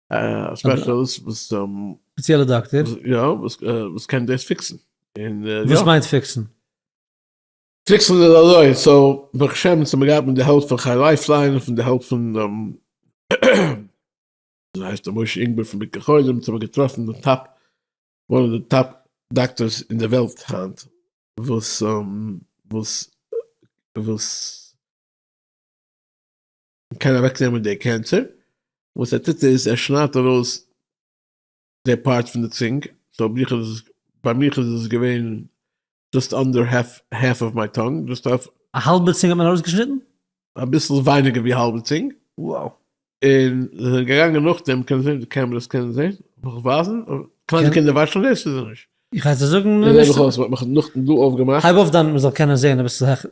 א ספעשעליסט וואס. ספעציעלע דאקטער. יא, וואס קען דאס פיקסן. וואס מיינט פיקסן? פיקסן איז אזוי, סאו ברוך השם אונז האמיר געהאט מיט די העלפ פון חי לייפליין און פון די העלפ פון וויאזוי הייסט ער משה אינגבער פון ביקור חולים, אונז האמיר געטראפן די טאפ, וואן אוו די טאפ דאקטערס אין די וועלט היינט, וואס וואס וואס. קען אוועקנעמען די קענסער, וואס ער טוט איז ער שניידט ארויס די פארט פון די צונג, סאו ביך איז עס, ביי מיך איז עס געווען דזשאסט אנדער העלף, העלף אוו מיי טאנג, דזשאסט אויף. א האלבע צונג האט מען ארויסגעשניטן? אביסל ווייניגער ווי האלבע צונג. Wow. און זיי זענען געגאנגען נאכדעם, קען זעהן די קעמרעס קענען זעהן, זאל איך ווייזן? קליינע קינדער ווייסן דאס אדער נישט? איך הייס דיר זאגן. איך זעה מיך אויס, מ'האט מיך נאכדעם דא אויפגעמאכט. הייב אויף דיין מ'זאל קענען זעהן אביסל העכער.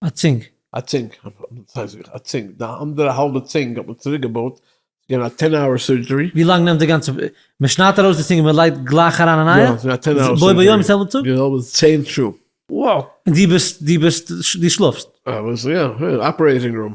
א צינג. א צינג, א צינג, די אנדערע האלבע צינג האט מען צוריק געבויט, געווען א טען אווער סורדזשערי. ווי לאנג נעמט די גאנצע, מ'שניידט ארויס די צינג און מ'לייגט גלייך אריין א נייע? בו ביום זעלבע טאג? יא, ס'געווען צען שעה. וואו! און דו ביסט, דו ביסט, דו שלאפסט? יא, אויסער יא, אופערעיטינג רום.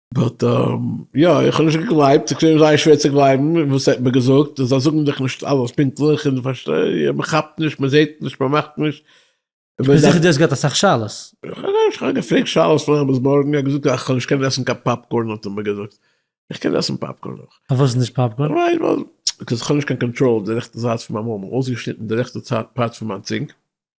באט יא איך האב נישט געגלייבט, ס'איז געווען זייער שווער צו גלייבן וואס ער האט מיר געזאגט, אז זיי זאגן דיך נישט אלעס פונקטליך, און פארשטיי, מען כאפט נישט, מען זעט נישט, מען מאכט נישט. איך בין זיכער דו האסט געהאט אסאך שאלות. איך האב געפרעגט שאלות פון עמוס בארגן, ער האט געזאגט אז כ'זאל נישט קענען עסן קיין פאפקארן האט ער מיר געזאגט, איך קען עסן פאפקארן אויך. פארוואס נישט פאפקארן? ווייל איך האב נישט קיין קאנטראל אויף די רעכטע זייט פון מיין מויל, מען האט אויסגעשניטן די רעכטע פארט פון מיין צונג.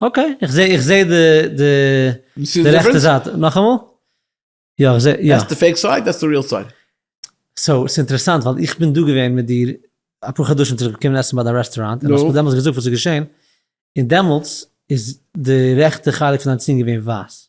אקעי, איך זעה איך זעה די די די רעכטע זייט, נאכאמאל? יא איך זעה יא. דעס די פעיק סייד דעס די ריעל סייד. סאו ס'איז אינטערעסאנט ווייל איך בין דא געווען מיט דיר אפאר חדשים צוריק געקומען עסן ביי דיין רעסטוראנט און האסט מיר דעמאלטס געזאגט וואס איז געשען און דעמאלטס איז די רעכטע חלק פון דיין צינג געווען ווייס.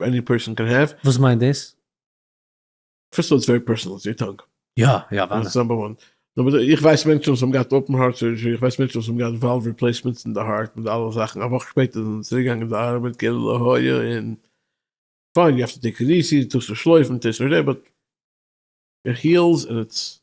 עני פערסאן קען העוו. וואס מיינט דאס? פירסט אויס ווערי פערסאנעל צו יור טאנג. יא יא אוודאי. דאס איז נאמבער וואן. נאמבער צוויי, איך ווייס מענטשן וואס האבן געהאט אופן הארט סורדזשערי, איך ווייס מענטשן וואס האבן געהאט וואלוו ריפלעיסמענטס אין די הארט מיט אלע זאכן, א וואך שפעטער זענען זיי צוריקגעגאנגען צו ארבעט כאילו לא היה און פיין, יו העוו טו טעיק איט איזי, טוסט נישט שלויפן, טעיסט נישט דעי, באט איט היעלס און איטס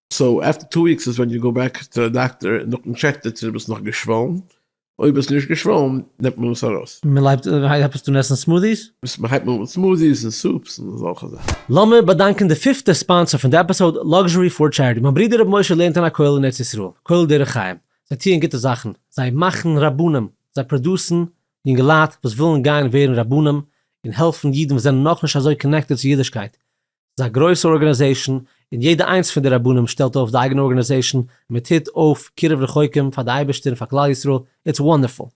סאו עפטער טו וויקס איז ווען יו גאו בעק צו די דאקטער און דארטן טשעקט ער צו דו ביסט נאך געשוואלן, אויב ביסט נישט געשוואלן נעמט מען עס ארויס. מען לייגט הייבט עס אן עסן סמודיס? מען הייבט אן מיט סמודיס און סופס און אזעלכע זאכן. לאמיר באדאנקען די פיפטע ספאנסער פון די עפיסאוד, Luxury for Charity, מיין ברודער רבי משה לערנט אין א כולל אין ארץ ישראל, כולל דרך חיים, זיי טוען גוטע זאכן, זיי מאכן רבנים, זיי פראדוסן יונגעלייט וואס ווילן גיין ווערן רבנים, און העלפן אידן וואס זענען נאכנישט אזוי קאנעקטעד צו אידישקייט, ס'איז א גרויסע ארגענעזעישן און יעדע איינס פון די רבנים שטעלט אויף די אייגענע ארגענעזעישן און מען טוט אויף קירוב רחוקים פאר די אייבערשטער און פאר כלל ישראל, איטס וואנדערפול.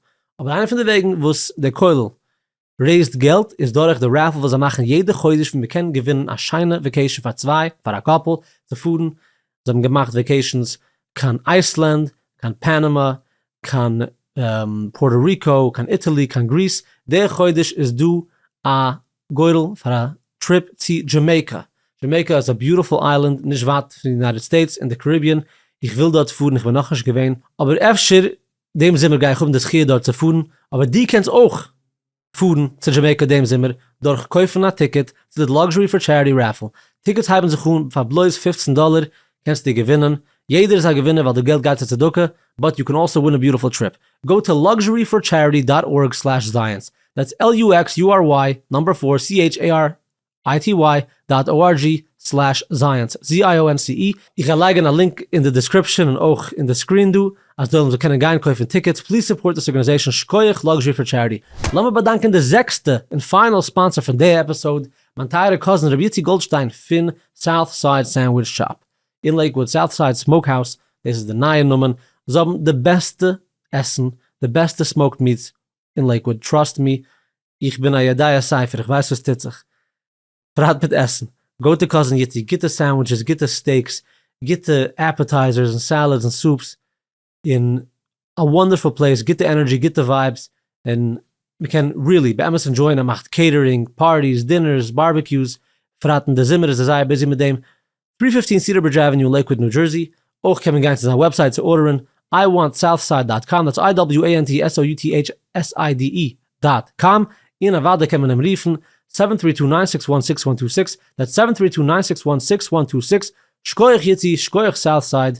אבער איינע פון די וועגן וואס דער כולל רעיזד געלט איז דורך די רעפעל וואס זיי מאכן יעדע חודש ווי מען קען געווינען א שיינע וועקעישן פאר צוויי פאר א קאפל צו פארן, זיי האבן געמאכט וועקעישנס קיין אייסלענד, קיין פאנאמא, קיין פארטא ריקא, קיין איטעלי, קיין גריס, די חודש איז דא א גורל פאר א טריפ צו דזשעמעיקא, דזשעמעיקא איז א ביוטיפול איילענד נישט ווייט פון די יונייטעד סטעיטס אין די קאריביען, איך וויל דארט פארן איך בין נאכנישט געווען, אבער אפשר דעם זומער גיי איך האבן די זכיה דארט צו פארן, אבער דו קענסט אויך פארן צו דזשעמעיקא דעם זומער דורך קויפן א טיקעט צו די Luxury for Charity Raffle, טיקעטס הייבן זיך אן פאר בלויז פֿופֿצן דאלער, קענסטו געווינען, יעדער איז א געווינער ווייל די געלט גייט צו צדקה, באט יו קען אלסא ווין א ביוטיפול טריפ, גאו טו לאקזשערי פאר טשעריטי דאט ארג סלעש זייענס, דעטס על יו עקס יו אר וויי נאמבער פאר סי עיטש עי אר איי טי וויי דאט או אר דזשי סלעש זייענס, ז איי או ען סי אי. איך גיי לייגען א לינק אין די דיסקריפשען און אויך אין די סקרין דא אז די עולם זאל קענען גיין קויפן טיקעטס, פליז סופארט דעס ארגענעזעישאן שקויעך לאקזשערי פאר טשעריטי. לאמיר באדאנקען די זעקסטע און פיינעל ספאנסער פון די עפיסאוד, מיין טייערע קאזין רבי איציק גאלדשטיין פון סאוט סייד סענדוויטש שאפ אין לעיקוואוד, סאוט סייד סמאוק האוס, דאס איז די נייע נאמען, זיי האבן די בעסטע עסן, די בעסטע סמאוקד מיטס אין לעיקוואוד, טראסט מי, איך בין א ידעי ספר, איך ווייס וואס טוט זיך, פרט מיט עסן, גאו טו קאזין איציק, גוטע סענדוויטשעס, גוטע סטעיקס, גוטע עפעטייזערס און סעלעדס און סופס, און א וואנדערפול פלעיס, גוטע ענערדזשי, גוטע ווייבס, און מ'קען ריעלי באמת ענדזשויען, ער מאכט קעיטערינג, פארטיס, דינערס, בארבעקיוס, בפרט אין די זומער איז ער זייער ביזי מיט דעם, טרי פיפטין סידער ברידזש עוועניו לעיקוואוד ניו דזשערסי, אויך קען מען גיין צו זיין וועבסייט צו ארדערן, איי וואנט סאוט סייד דאט קאם, דעטס איי דאבעליו עי ען טי עס או יו טי עיטש עס איי די אי דאט קאם, און אוודאי קען מען אים רופן, סעווען טרי טו ניין סיקס וואן סיקס וואן טו סיקס, דעטס סעווען טרי טו ניין סיקס וואן סיקס וואן טו סיקס, שקויעך יוטי, שקויעך סאוט סייד,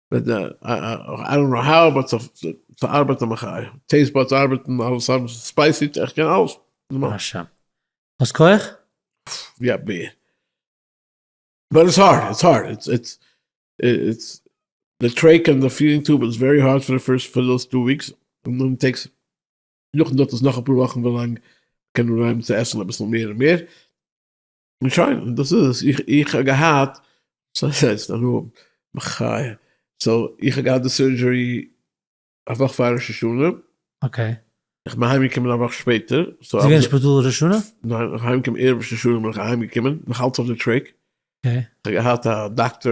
ארון אהרן האט זיך צוארבייט א מחיה, טעיסט באדס ארבעטן אלעס ארבעט ספייסי, איך קען אלעס. אשאד. האסט כח? יא ב. באט איטס הארד, איטס הארד, איטס איטס איטס די טרעיק און די פידינג טוב איז ווערי הארד פאר די פירסט פאר דאס טו וויקס און דאן טעקס נאכדעם דארט עס נאך אפאר וואכן ווילאנג מ'קען אנהייבן צו עסן אביסל מער און מער. און שוין, און דאס איז עס, איך האב געהאט, סארי סארי ס'איז נאר האבן, מחיה, סאו איך האב געהאט די סורדזשערי א וואך פאר ראש השנה, אקעי, איך בין אהיים געקומען א וואך שפעטער, ביסט געווען אין שפיטאל ראש השנה? ניין, איך אהיים געקומען ערב ראש השנה בין איך אהיים געקומען, נאך אלץ אויף די טרעק, אקעי, איך האב געהאט א דאקטאר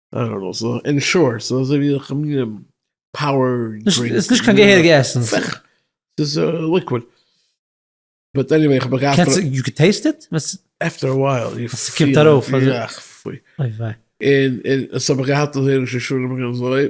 I don't know, ס'איז אין שארט, ס'איז אזוי ווי א מין פאוער דרינק. ס'איז נישט קיין געהעריגע עסן. ס'איז ליקוויד. באט עניוועי, איך האב מיר געהאט פון. יו קען טעיסט איט? עפטער א ווייל יו פיל. ס'קומט ארויף. אוי וויי. און און ס'האב איך געהאט אזוי ראש השנה אזוי.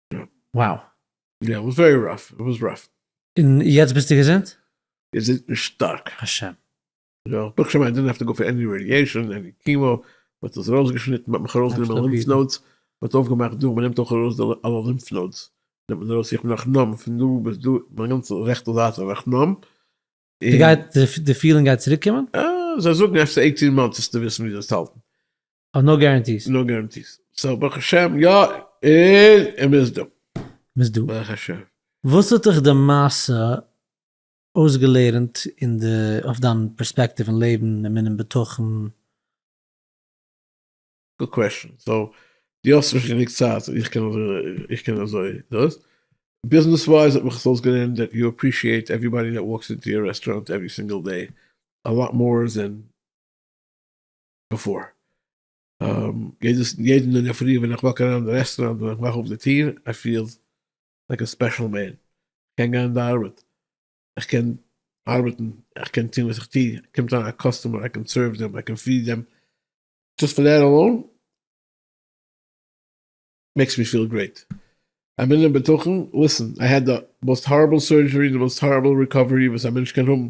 וואו. יא איט וואס ווערי ראף, איט וואס ראף. און יעצט ביסטו געזונט? געזונט און שטארק. השם. יא כ'בין שוין איי דאנט העוו טו גאו פאר עני רעדיעשאן, עני קימאו, מ'האט עס ארויס געשניטן, מ'האט מיך ארויס גענומען לימף נאודס, מ'האט אויף געמאכט דא, מ'נעמט אויך ארויס די אלע לימף נאודס, נעמט מען ארויס, איך בין נאך נאמב פון דא ביז דא, מיין גאנצע רעכטע זייט איז נאך נאמב, און. די גייט, די פילינג גייט צוריק קומען? אה, זיי זאגן אפשר עיטין מאנטס וועסטו וויסן ווי דאס צו האלטן. אויף נאו גערענטיס. נאו גערענטיס. סאו ברוך השם יא און מ'איז דא. מ'איז דא. ברוך השם. וואס האט דיך די מעשה אויסגעלערנט אין די אויף דיין פערספעקטיוו אין לעבן, אמונה און בטחון? גוד קוועשאן. סאו דו האסט נישט גענוג צייט איך קען איך קען אזוי דאס. ביזנעס ווייז האט מיך עס אויסגעלערנט דעט יו עפרישיעט עווריבאדי דעט וואלקס אינטו יור רעסטוראנט עוורי סינגל דעי א לאט מאר דען. בעפאר. יעדעס יעדן אין דער פרי ווען איך וואק אריין אין די רעסטוראנט ווען איך מאך אויף די טיר איי פיל לייק א ספעשל מען. כ'קען גיין אין די ארבעט, איך קען ארבעטן, איך קען טון וואס איך טו, קומט אריין א קאסטומער איי קען סערוו דעם, איי קען פיד דעם, דזשאסט פאר דעט אלאון מעקס מי פיל גרעיט. אמונה בטחון, ליסן, איי העד די מאסט הארעבל סורדזשערי, די מאסט הארעבל ריקאווערי וואס א מענטש קען האבן.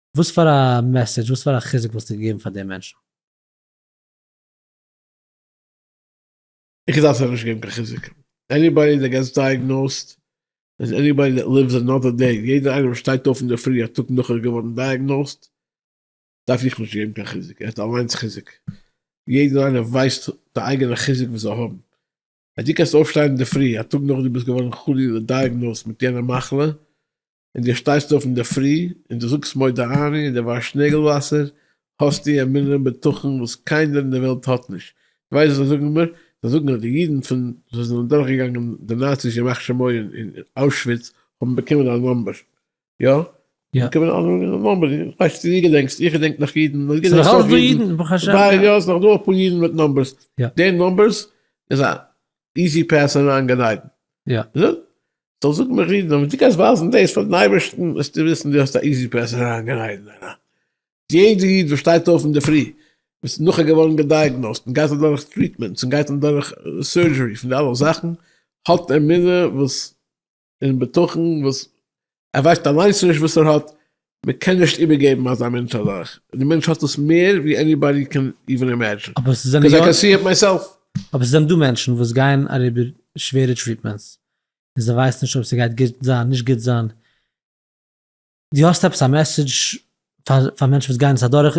וואס פאר א מעסעדזש, וואס פאר א חיזוק וואלסטו געגעבן פאר די מענטשן? איך וואלט זיי נישט געגעבן קיין חיזוק. עניבאדי דעט געטס דייעגנאוזד איז עניבאדי דעט ליווס אנאדער דעי, יעדער איינער וואס שטייט אויף אינדערפרי א טאג נאך ער איז געווארן דייעגנאוזד, דארף איך נישט געבן קיין חיזוק, ער האט אליינס חיזוק. יעדער איינער ווייסט די אייגענע חיזוק וואס זיי האבן. אז דו קענסט אויפשטיין אינדערפרי א טאג נאך דו ביסט געווארן חלילה דייעגנאוזד מיט יענע מחלה, און דו שטייסט אויף אינדערפרי און דו זאגסט מודה אני און דו וואשט נעגל וואסער, האסטו א מינערע בטחון וואס קיינער אין דער וועלט האט נישט. דו ווייסט וואס זיי זאגן מיר? זיי זאגן אז די אידן פון וואס זענען דורכגעגאנגען די נאציס ימח שמו אין אוישוויץ האבן באקומען א נומבער. יא. יא. באקומען א נומבער. איך ווייס נישט צו דו געדענקסט. איך געדענק נאך אידן. ס'איז נאך אלץ דא אידן, ברוך השם. יא, ס'איז נאך דא אפאר אידן מיט נומבערס. די נומבערס איז א איזי פעס און ראנג גענייגן. יא. זאג, זאל זאגן מיך אידן, אבער דו גייסט ווייזן דאס פאר דעם אייבערשטן וועסטו וויסן דו האסט א איזי פעס און ראנג גענייגן. יעדע איד וואס שטייט אויף אינדערפרי, איז נאכער געווארן געדייעגנאוזט און גייט אדורך טריטמענטס און גייט אדורך סורדזשערי פון די אלע זאכן, האט אמונה וואס. און בטחון וואס ער ווייסט אליינס נישט וואס ער האט, מען קען נישט איבערגעבן אזא מענטש אזאך, די מענטש האט דאס מער ווי עניבאדי קען איווען אימעדזשין, אבער ס'זענען יא, קאז איי קען סי איט מייסעלף. אבער ס'זענען דא מענטשן וואס גייען אריבער שווערע טריטמענטס, און זיי ווייסן נישט אויב ס'גייט גוט זיין נישט גוט זיין, דו האסט עפעס א מעסעדזש פאר פאר מענטשן וואס גייען עס אדורך,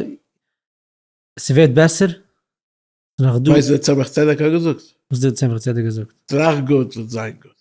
ס'ווערט בעסער, ס'נאך דא. ווייסט וואס דער צמח צדק האט געזאגט? וואס האט דער צמח צדק געזאגט? טראכט גוט וועט זיין גוט.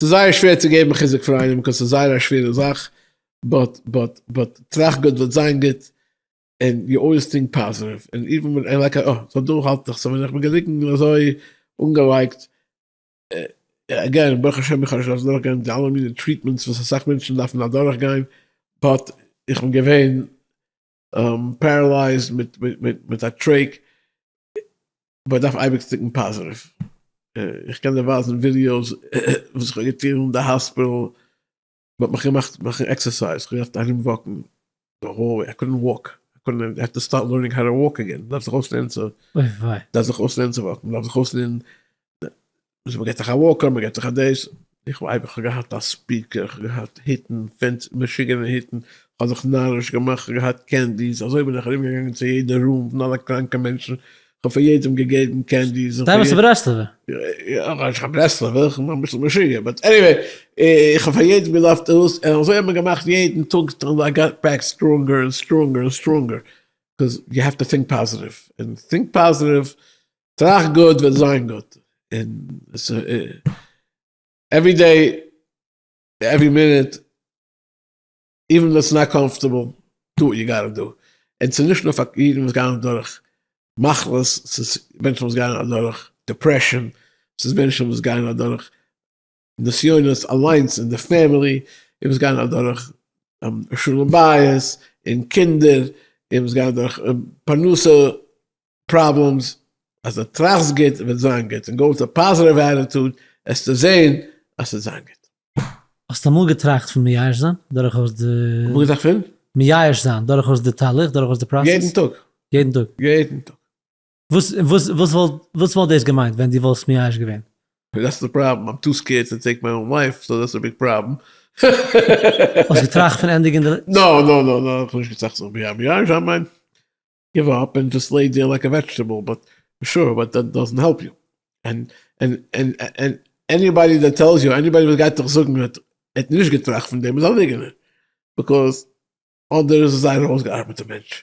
ס'איז זייער שווער צו געבן חיזוק פאר איינעם קויז ס'איז זייער א שווערע זאך, באט באט באט טראכט גוט וועט זיין גוט און יו אלוועיס טינק פאזעטיוו און איווען ווען ער לייק אה סא דא האלט איך סא ווען איך בין געליקן אזוי אנגעלייגט עגעין ברוך השם איך האב נישט דארפט אדורך גיין די אלע מיני טריטמענטס וואס אסאך מענטשן דארפן אדורך גיין באט איך בין געווען פערעלייזד מיט מיט מיט א טרעיק וואס דארף אייביג סטיקן פאזעטיוו, איך קען דיר ווייזן ווידיאוס וואס איך האב געטון אין די האספיטעל, מען האט מיך געמאכט מאכן עקסערסייז, איך האב געדארפט ארום וואקן די האלוועי, איי קאדנט וואק, איך האב געדארפט לערנען האו טו וואק אגעין, מען דארף זיך אויסלערנען צו וואקן, מען דארף זיך אויסלערנען. וואס מ'געט זיך א וואקער מ'געט זיך א דעיס, איך ווייב איך האב געהאט א ספיקער איך האב געהאט היטן פענסי משוגענע היטן, איך האב זיך נאריש געמאכט איך האב געהאט קענדיס אזוי בין איך ארום געגאנגען צו יעדע רום פון אלע קראנקע מענטשן איך האב פאר יעדעם געגעבן קענדיס איך האב פאר יעדעם, די ביסט א ברסלב'ער? יא כאניש קיין ברסלב'ער איך בין אביסל משוגע באט עניוועי איך האב פאר יעדעם געלאווט דאס און אזוי האט מען געמאכט יעדן טאג איי גאט בעק סטראנגער און סטראנגער און סטראנגער קאז יו העוו טו טינק פאזעטיוו און טינק פאזעטיוו טראכט גוט וועט זיין גוט, און עוורי דעי, עוורי מינוט, איווען ווען ס'איז נאט קאמפארטעבל, דא יו גאט טו דא, און ס'איז נישט נאר פאר אידן וואס גייען אדורך מחלות, ס'איז מענטשן וואס גייען אדורך דעפרעשאן, ס'איז מענטשן וואס גייען אדורך נסיונות אליינס אין די פעמילי, איר מוזט גיין אדורך שלום בית און קינדער, איר מוזט גיין אדורך פרנסה פראבלעמס, אז די טראכסט גוט וועט זיין גוט און גאו וויט א פאזעטיוו עטיטוד עסטו זען אז ס'וועט זיין גוט. האסט אמאל געטראכט פון מייאש זיין דורכאויס די? אמאל געטראכט פון? מייאש זיין דורכאויס די תהליך, דורכאויס די פראסעס? יעדן טאג. יעדן טאג? יעדן טאג. וואס וואס וואס וואלט וואס וואלט דאס געמיינט ווען דו וואלסט מייאש געווען? דעטס די פראבלעם, איים טו סקעירד טו טעיק מיי אן לייף, סאו דעטס א ביג פראבלעם. האסט געטראכט פון ענדיגן די. נא נא נא נא, כ'האב נישט געטראכט זיך מייאש געווען, איך מיין, גיוו אפ און דזשאסט לעי דעיר לייק א וועדזשטעבל, באט שור, באט דעט דאזענט העלפ יו, און און און און עניבאדי דעט טעלס יו, עניבאדי וואס גייט דיך זאגן אז ער האט נישט געטראכט פון דעם איז א ליגענער, ביקאז אדער איז עס זייער אויסגעארבעטע מענטש.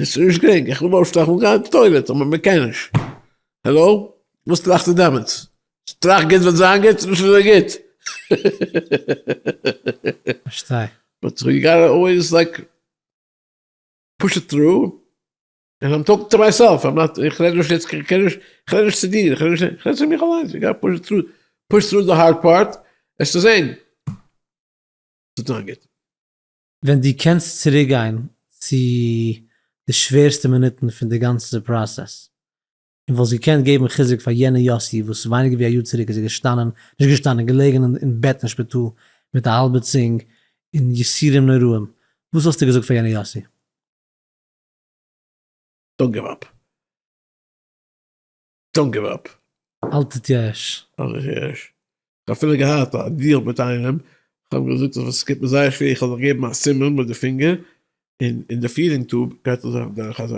עס איז נישט גרינג, איך וויל אויפשטיין, איך וויל גיין אין טוילעט, אבער מען קען נישט. העלאו? וואס טראכסטו דעמאלטס? טראכט גוט וועט זיין גוט, נישט אזוי גוט. פארשטיי. באט יו גאטע אלוועיס לייק פוש איט טרו, און איים טאלקינג טו מייסעלף, איים נאט, איך רעד נישט יעצט, איך רעד נישט, איך רעד נישט צו דיר, איך רעד נישט, איך רעד צו מיך אליינס, יו גאטע פוש איט טרו, פוש טרו די הארד פארט, עסטו זען, ס'וועט זיין גוט. ווען דו קענסט צוריק גיין צו די שווערסטע מינוטן פון די גאנצע פראסעס, און וואלסט געקענט געבן חיזוק פאר יענע יאסי וואס ווייניגער ווי א יאר צוריק איז ער געשטאנען, נישט געשטאנען, געלעגן אין בעט אין שפיטאל מיט א האלבע צונג און יסורים נוראים, וואס וואלסטו געזאגט פאר יענע יאסי? דאנט גיוו אפ. דאנט גיוו אפ. האלט איט יש. האלט איט יש. כ'האב אפילו געהאט א דיעל מיט איינעם, כ'האב געזאגט אז עס קומט מיר זייער שווער, כ'וועל דיך געבן א סימן מיט די פינגער, און אין די פידינג טוב גייט ער זיך דורך אזא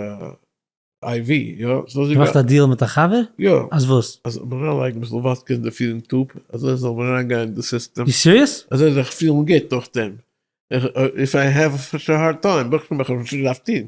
איי ווי, יא? ס'זאל זיך. געמאכט א דיעל מיט א חבר? יא. אז וואס? אז מיר אריינלייגן אביסל וואדקע אין די פידינג טוב, אזוי עס זאל מער אריינגיין אין די סיסטעם. יו סיריעס? ער זאל זיך פילן גוט נאכדעם. איף איי העוו סאטש א הארד טיים, ברויך איך שוין מאכן וואס איך דארף טון.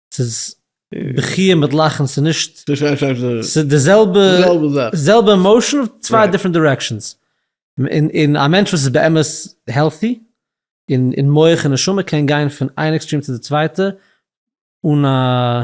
ס'איז בכי' מיט לאכן ס'איז נישט, ס'איז די זעלבע, זעלבע עמאושען צוויי דיפרענט דירעקשענס, און און א מענטש וואס איז באמת העלטי און און מח און נשמה קען גיין פון איין עקסטרים צו די צווייטע אן א.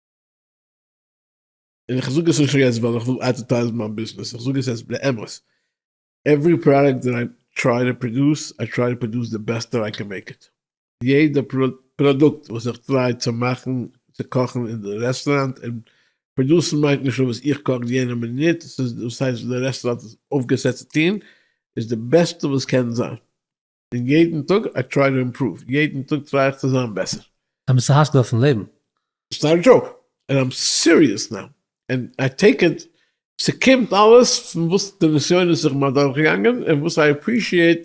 און איך זאג עס נישט יעצט ווייל איך וויל אדווערטייזן מיין ביזנעס, איך זאג עס אז באמת, עוורי פראדאקט דעט איי טריי טו פראדוס, איי טריי טו פראדוס די בעסט דעט איי קען מעיק איט. יעדע פראדוקט וואס איך טריי צו מאכן, צו קאכן אין די רעסטוראנט, און פראדוסן מיינט נישט נאר וואס איך קאך יענע מינוט, ס'איז וואס הייסט די רעסטוראנט איז אויפגעסעט צו טון, איז די בעסטע וואס קען זיין. און יעדן טאג איי טריי טו אימפראוו, יעדן טאג טריי איך צו זיין בעסער. עפעס א השגה אויפן לעבן? איטס נאט א דזשאוק, ענד איים סיריעס נאו, ענד איי טעיק איט, ס'קומט אלעס פון וואס די נסיונות איך בין אדורכגעגאנגען, און וואס איי עפרישיעט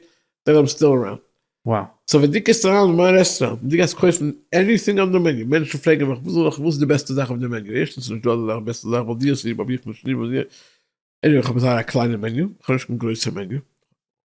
דעט איים סטיל אראונד. וואו. סאו ווען דו קומסט אריין אין מיין רעסטוראנט און דו גייסט קויפן עניטינג אן די מעניו, מענטשן פרעגן מיך וואס זאל איך, וואס איז די בעסטע זאך אויף די מעניו, ערשטנס ס'איז נישט דא אזא זאך בעסטע זאך ווייל דו האסט ליב אויב איך נישט ליב, עניוועי כ'האב זייער א קליינע מעניו, כ'האב נישט קיין גרויסע מעניו,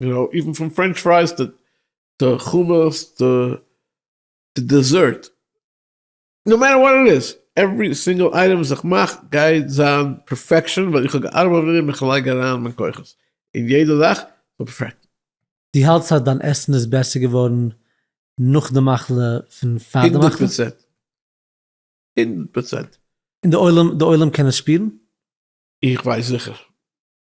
יו נאו, איווען פון פרענטש פרייס טו טו חומוס טו טו דעזערט, נאו מעטער וואט איט איז, עווערי סינגעל אייטעם וואס איך מאך גייט זיין פערפעקשאן ווייל איך האב געארבעט אויף דעם, איך לייג אריין מיין כוחות אין יעדע זאך זאל פערפעקטן. דו האלטסט אז דיין עסן איז בעסער געווארן נאך די מחלה פון פאר די מחלה? הונדערט פראצענט! הונדערט פראצענט! און די עולם, די עולם קען עס שפירן? איך ווייס זיכער.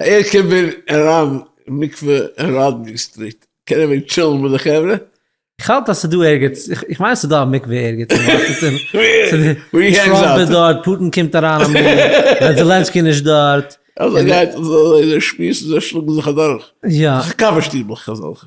איך קען ווען אריין מקווה ראדני סטריט? קען איך ווען טשילן מיט די חברה? איך האלט אז ס'דא ערגעץ, איך מיין ס'דא א מקווה ערגעץ אין וואשינגטאן, טראמפ איז דארט, פוטין קומט אריין אמאל, ווען זעלענסקי נישט דארט. אזוי גייט עס, זיי שמועסן זיי שלאגן זיך אדורך, קאווע שטיבל כזאלכע.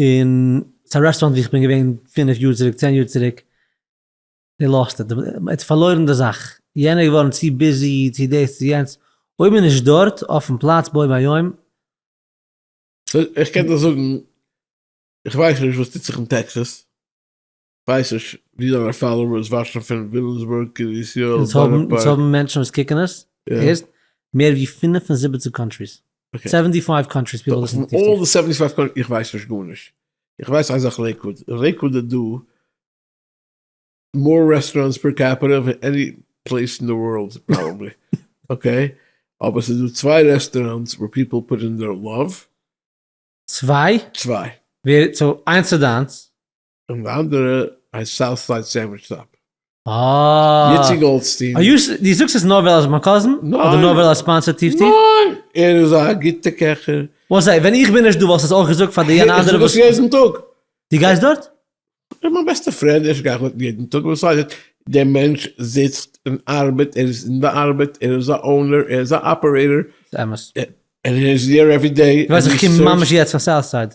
און ס'איז א רעסטוראנט ווי איך בין געווען פינף יאר צוריק, צען יאר צוריק, די לאזט איט, מ'האט פארלוירן די זאך, יענער איז געווארן צו ביזי, צו דאס צו יענץ, אויב מ'איז נישט דארט אויפן פלאץ בו ביום, איך קען דיר זאגן, איך ווייס נישט וואס טוט זיך אין טעקסעס. ווייס נישט ווי זיינע פאלאווערס וואטשן פון וויליאמסבורג קרית יואל אונז בארא האבן אונז פארק. האבן מענטשן וואס קוקן עס יא. ערשט מער ווי פֿינף און זיבעציק קאנטריס. אקעי. סעווענטי פייוו קאנטריס פיפל ליסן פון אלל די סעווענטי פייוו קאנטריס איך ווייס נישט גארנישט. איך ווייס איין זאך לעיקוואד. אין לעיקוואד איז דא מאר רעסטוראנטס פער קעפיטע ווי עני פלעיס אין די ווארלד פראבעבלי. אקעי. אבער ס'איז דא צוויי רעסטוראנטס וואו פיפל פוט אין דעיר לאוו. צוויי? צוויי. ווער סאו איינס איז דיינס. און די אנדערע הייסט סאוט סייד סענדוויטש סטאפ. אה. איציק גאלדשטיין. אר יו ש די זאגסט עס נאר ווייל ער איז מיין קאזין? ניין. אדער נאר ווייל ער ספאנסערט טיב טיב? ניין. ער איז א גוטע קעכער. וואס זיי, ווען איך בין נישט דא וואלסט עס אויך געזאגט פאר די יענע אנדערע וואס. איך זאג עס יעדן טאג. די גייסט דארט? ער איז מיין בעסטע פרענד, איך גיי דארט יעדן טאג, וואס הייסט יעדן? דער מענטש זיצט און ארבעט, ער איז אין די ארבעט, ער איז א אונער, ער איז א אפערעיטאר. ס'אמת. ער איז דער עווערי דעי. די ווייסט איך קום ממש יעצט פון סאוט סייד.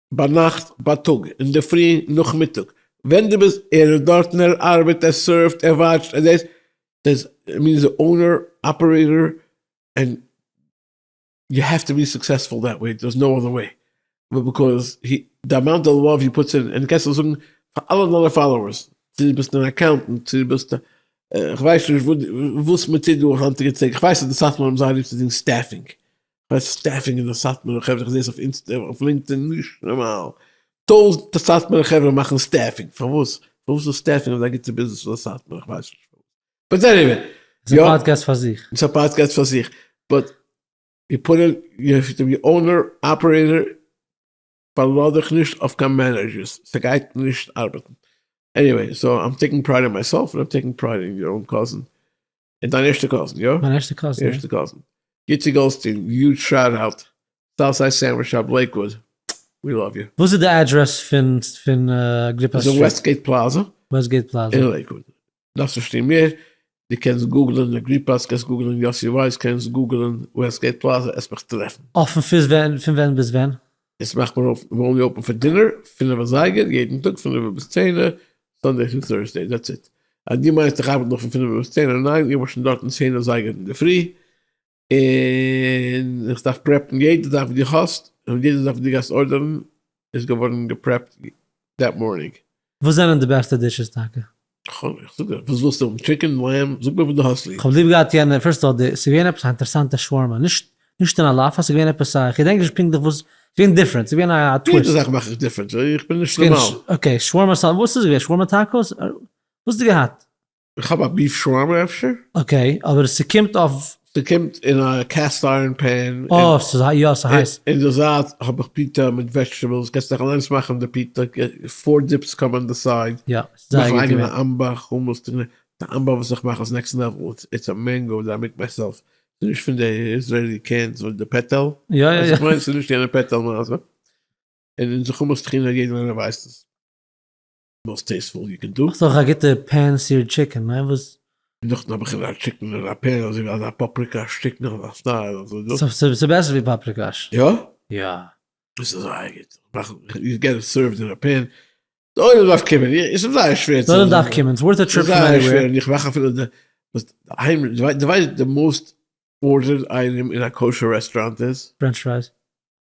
ביינאכט, בייטאג, אינדערפרי, נאכמיטאג, ווען דו ביסט, ער איז דארטן, ער ארבעט, ער סערווט, ער וואטשט, ער דעיס, דעיס, איט מיענס די אונער, אפערעיטאר, ענד יו העוו טו בי סוקסעספול דעט וועי, דעירס נאו אדער וועי, ביקאוז הי, די אמאונט אוו לאוו הי פוטס אין, און קענסט דאס זאגן פאר אלע דיינע פאלאוערס, צו דו ביסט אן אקאונטענט, צו דו ביסט א, כ'ווייס נישט וואס מען טוט דא היינטיגע טעג, כ'ווייס אז די סאטמאר האבן זייער ליב צו טון סטעפינג, כ'ווייס סטעפינג אין די סאטמארע חברה, כ'זעה עס אויף אינסטע און אויף לינקדאין, נישט נארמאל, טויזענטער סאטמארע חברה מאכן סטעפינג, פארוואס? פארוואס איז סטעפינג אזא גוטע ביזנעס פאר סאטמאר? איך ווייס נישט פארוואס, באט עניוועי, ס'איז א פאדקעסט פאר זיך. ס'איז א פאדקעסט פאר זיך, באט, די פאנעל, די אונער, אפערעיטער. פארלאז דיך נישט אויף קיין מענעדזשערס, ס'גייט נישט ארבעטן. עניוועי, סאו איים טעיקינג פרייד אין מייסעלף און איים טעיקינג פרייד אין יור אן קאזין, און דיין ערשטע קאזין, יא? מיין ערשטע קאזין, יא. ערשטע קאזין. גיטי גאלדסטין, יוד שאט אוט, סאוט סייד סענדוויטש אוו לעיקוואוד, ווי לאוו יו. וואס איז די אדרעס פון אגריפא סטריט? ס'איז אין וועסטגעיט פלאזא. וועסטגעיט פלאזא. אין לעיקוואד. דארפסט נישט טון מער, דו קענסט גוגלען אגריפאס, קענסט גוגלען יאסי ווייס, קענסט גוגלען וועסטגעיט פלאזע, עסט מיך טרעפן. אפן פיס ווען? פון ווען ביז ווען? עס מאכט מען אויף נארמאלי אויפן פאר דינער, פינעף אזייגער, יעדן טאג פינעף ביז צענע, סאנדעי טו טורסדעי, דעטס איט. אז דו מיינסט איך ארבעט נאך פון פינעף ביז צענע, ניין, איך בין שוין דארטן צען אזייגער אינדערפרי. און איך דארף פרעפן יעדע זאך וואס דו האסט, און יעדע זאך וואס דו גייסט ארדערן איז געווארן געפרעפט דעט מארנינג. וואס זענען די בעסטע דישעס טאקע? איך זאג דיר, וואס ווילסטו האבן? טשיקן? לעמב? זאג מיר וואס דו האסט ליב. כ'האב ליב געהאט יענע, פירסט אל די, ס'איז געווען עפעס א אינטערעסאנטע שווארמא, נישט נישט אין אלאפא, ס'איז געווען עפעס א, כ'געדענק נישט פונקטליך וואס, ס'איז געווען דיפרענט, ס'איז געווען א טוויסט. יעדע זאך מאך איך דיפרענט, איך בין נישט נארמאל. אקעי, שווארמא סאלט, וואס איז געווען? שווארמא טאקאס? וואס האסטו געהאט? איך האב א ביף שווארמע אפשר? אקעי, אבער ס'קומט אויף. ס'קומט אין א קעסט איירן פען. אה, ס'איז יא ס'הייס. אין די זייט האב איך פיטא מיט וועזשטעבעלס, קענסט דיך אליינס מאכן די פיטא, פאר דיפס קאם אן די סייד. יא, ס'איז זייער גוט געווען. נאך א אייגענע אמבא חומוס טונא, די אמבא וואס איך מאך איז נעקסט לעוועל, איטס א מענגא דעט איי מעיק מייסעלף, ס'איז נישט פון די איזרעילי קענס וויט די פעטעל, יא יא יא. ס'איז נישט יענע פעטעל מעשה, און אונזער חומוס טחינא יעדער איינער ווייסט עס. מאסט טעיסטפול געקוקט דא. האסט אויך א גוטע פען סיערד טשיקען, ניין וואס? און נאכדעם האב איך געזען א טשיקען אין א פען אזוי ווי אזא פאפריקאש טשיקען אזא סטייל אזוי דא. ס'איז בעסער ווי פאפריקאש. יא? יא. עס איז זייער גוט. יו געט איט סערוו'ד אין א פען. דארעם דארף קומען. עס איז זייער שווער צו. דארעם דארף קומען. ס'ווארט א טריפ פון עניוועיר. ס'איז זייער שווער און איך מאך אפילו די אהיים די ווייסט די מאסט ארדערעד אייטעם אין א קאושער רעסטוראנט איז? פרענטש פרייס.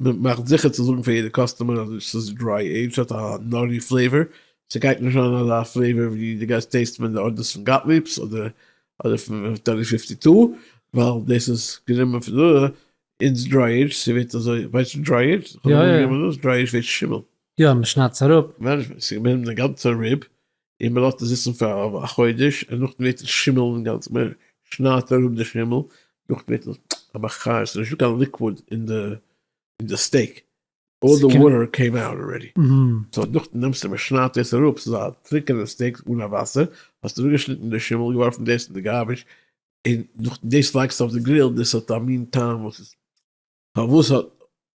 מען מאכט זיכער צו זאגן פאר יעדע קאסטומער אז ס'איז דריי עידזשד ס'האט א נאטי פלעיווער, ס'גייט נישט זיין אזא פלעיווער ווי דו גייסט טעיסטן ווען די ארדער איז פון גאטליעב'ס אדער אדער פון טעלי פיפטי טו, ווייל דאס איז גענומען פון דא, אונז דריי עידזשד ס'ווערט אזוי, ווייסט וואס דריי עידזשד איז? יא יא יא. דריי עידזשד ווערט שימל. יא, מ'שניידט עס אראפ. מענעדזשמענט, ס'געבן אים די גאנצע ריב, און מען לאזט עס זיצן פאר א חודש און נאכדעם ווערט עס שימל אינגאנצן, מען שניידט אראפ די שימל, נאכדעם ווערט עס א מחיה, עס איז נישטא קיין ליקוואד אין די אין די סטעיק, אלל די וואטער קעים אוט ארעדי, סאו נאכדעם נעמסטו מען שניידט דאס אראפ, ס'איז א טרוקענע סטעיק אן א וואסער, האסט אראפגעשניטן די שימל, געווארפן דאס אין די גארביטש, און נאכדעם דאס לייגסטו אויף די גריל, דאס האט א מין טעם וואס איז פארוואס האט.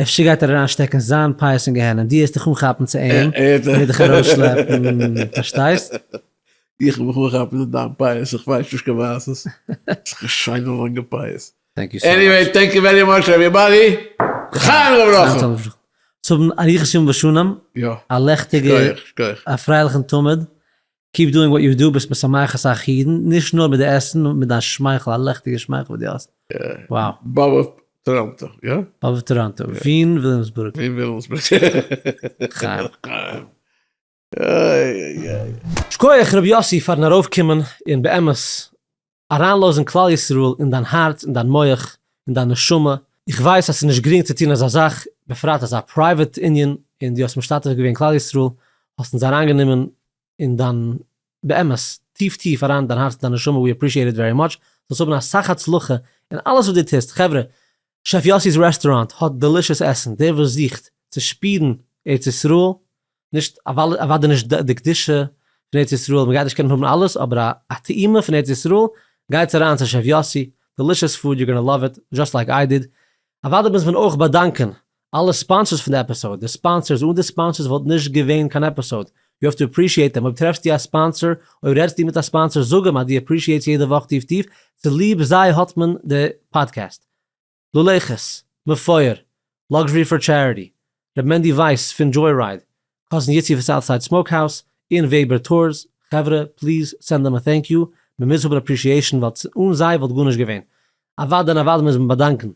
אפשר גייט ער אריין שטעקן זיין פייס אין גיהנום, דו העסט דיך אנכאפן צו אים און איז דיך ארויסשלעפן, פארשטייסט? איך וועל מיך אנכאפן צו דיין פייס, איך ווייס נישט קיין מעשה'ס, ס'איז א שיינע לאנגע פייס. עניוועי, טענק יו ווערי מאטש עוועריבאדי, לחיים ולברכה! צו האבן אריכות ימים ושנים, א לעכטיגע, א פרייליכן תמיד, קיפ דואינג וואט יו דא, ביסט משמח אסאך אידן, נישט נאר מיט די עסן נאר מיט דיין שמייכל, א לעכטיגע שמייכל וואס דו האסט, wow. באבע טאראנטא, יא? באבע טאראנטא, ווין וויליאמסבורג. ווין וויליאמסבורג. לחיים. לחיים. איי איי איי. שכוח ר' יאסי פארן ארויף קומען און באמת אריינלאזן כלל ישראל אין דיין הארץ אין דיין מח אין דיין נשמה, איך ווייס אז ס'איז נישט גרינג צו טון אזא זאך, בפרט אזא פרייוועט ענין, און דו האסט משתתף געווען כלל ישראל, האסט אונז אריינגענומען אין דיין, באמת, טיף טיף אריין אין דיין הארץ אין דיין נשמה, ווי עפרישיעט איט ווערי מאטש, זאלסט האבן אסאך הצלחה אין אלעס וואס דו טוסט, חברה, שעף יאסי'ס רעסטוראנט האט דעלישעס עסן, דער וואס זוכט צו שפירן ארץ ישראל, נישט אוודאי נישט די קדושה פון ארץ ישראל, מ'גייט נישט קענען האבן אלעס, אבער א טעימה פון ארץ ישראל, גייטס אריין צו שעף יאסי, דעלישעס פוד, יו גאנא לאוו איט, זשאסט לייק איי דיד. אוודאי מוז מען אויך באדאנקען אלע ספאנסערס פון די עפיסאוד, די ספאנסערס, אן די ספאנסערס וואלט נישט געווען קיין עפיסאוד, ווי אויף דו אפרישיעט אים, אויב טרעפסטו א ספאנסער, אויב רעדסטו מיט א ספאנסער זאג אים אז דו אפרישיעטס יעדע וואך טיף טיף, צוליב זיי האט מען די פאדקעסט. לולי ח'ס, מפואר, לאקזשערי פאר טשעריטי, ר' מענדי ווייס פון דזשוי רייד, קאזין יצי פון סאוט סייד סמאוק האוס, און וועבער טורס, חברה, פליז סענד אים א טענק יו, מ'מוז האבן אפרישיעישן ווייל אן זיי וואלט גארנישט געווען. אוואדע און אוואדע מוז מען באדאנקען.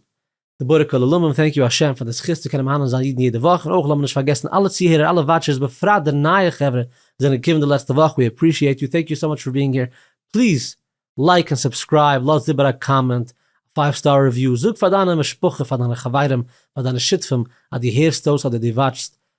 גיבורי כל עולמים, טענק יו השם פאר די זכות צו קענען מהנה זיין אידן יעדע וואך, און אויך לאמיר נישט פארגעסן אלע צוהערער אלע וואטשערס בפרט די נייע חברה וואס זענען געקומען די לעצטע וואך, ווי עפרישיעט יו, טענק יו סאו מאטש פאר בינג העיר, פליז לייק און סובסקרייב, לאז איבער א קאמענט, א פייוו סטאר ריוויו, זאג פאר דיינע משפחה פאר דיינע חברים פאר דיינע שותפים אז דו הערסט אויס אדער דו וואטשסט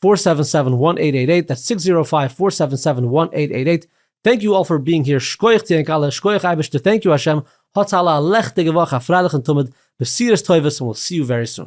פֿאָר סעווען סעווען וואן עיט עיט עיט, דעטס סיקס זירא פייוו פאר סעווען סעווען וואן עיט עיט עיט, טענק יו אלל פאר ביאינג העיר, שקויעך צו ענק אלע, שקויעך אייבערשטער, טענק יו האשעם, האטס אלע א לעכטיגע וואך, א פרייליכן תמיד, בשורות טובות און וויל סי יו ווערי סון.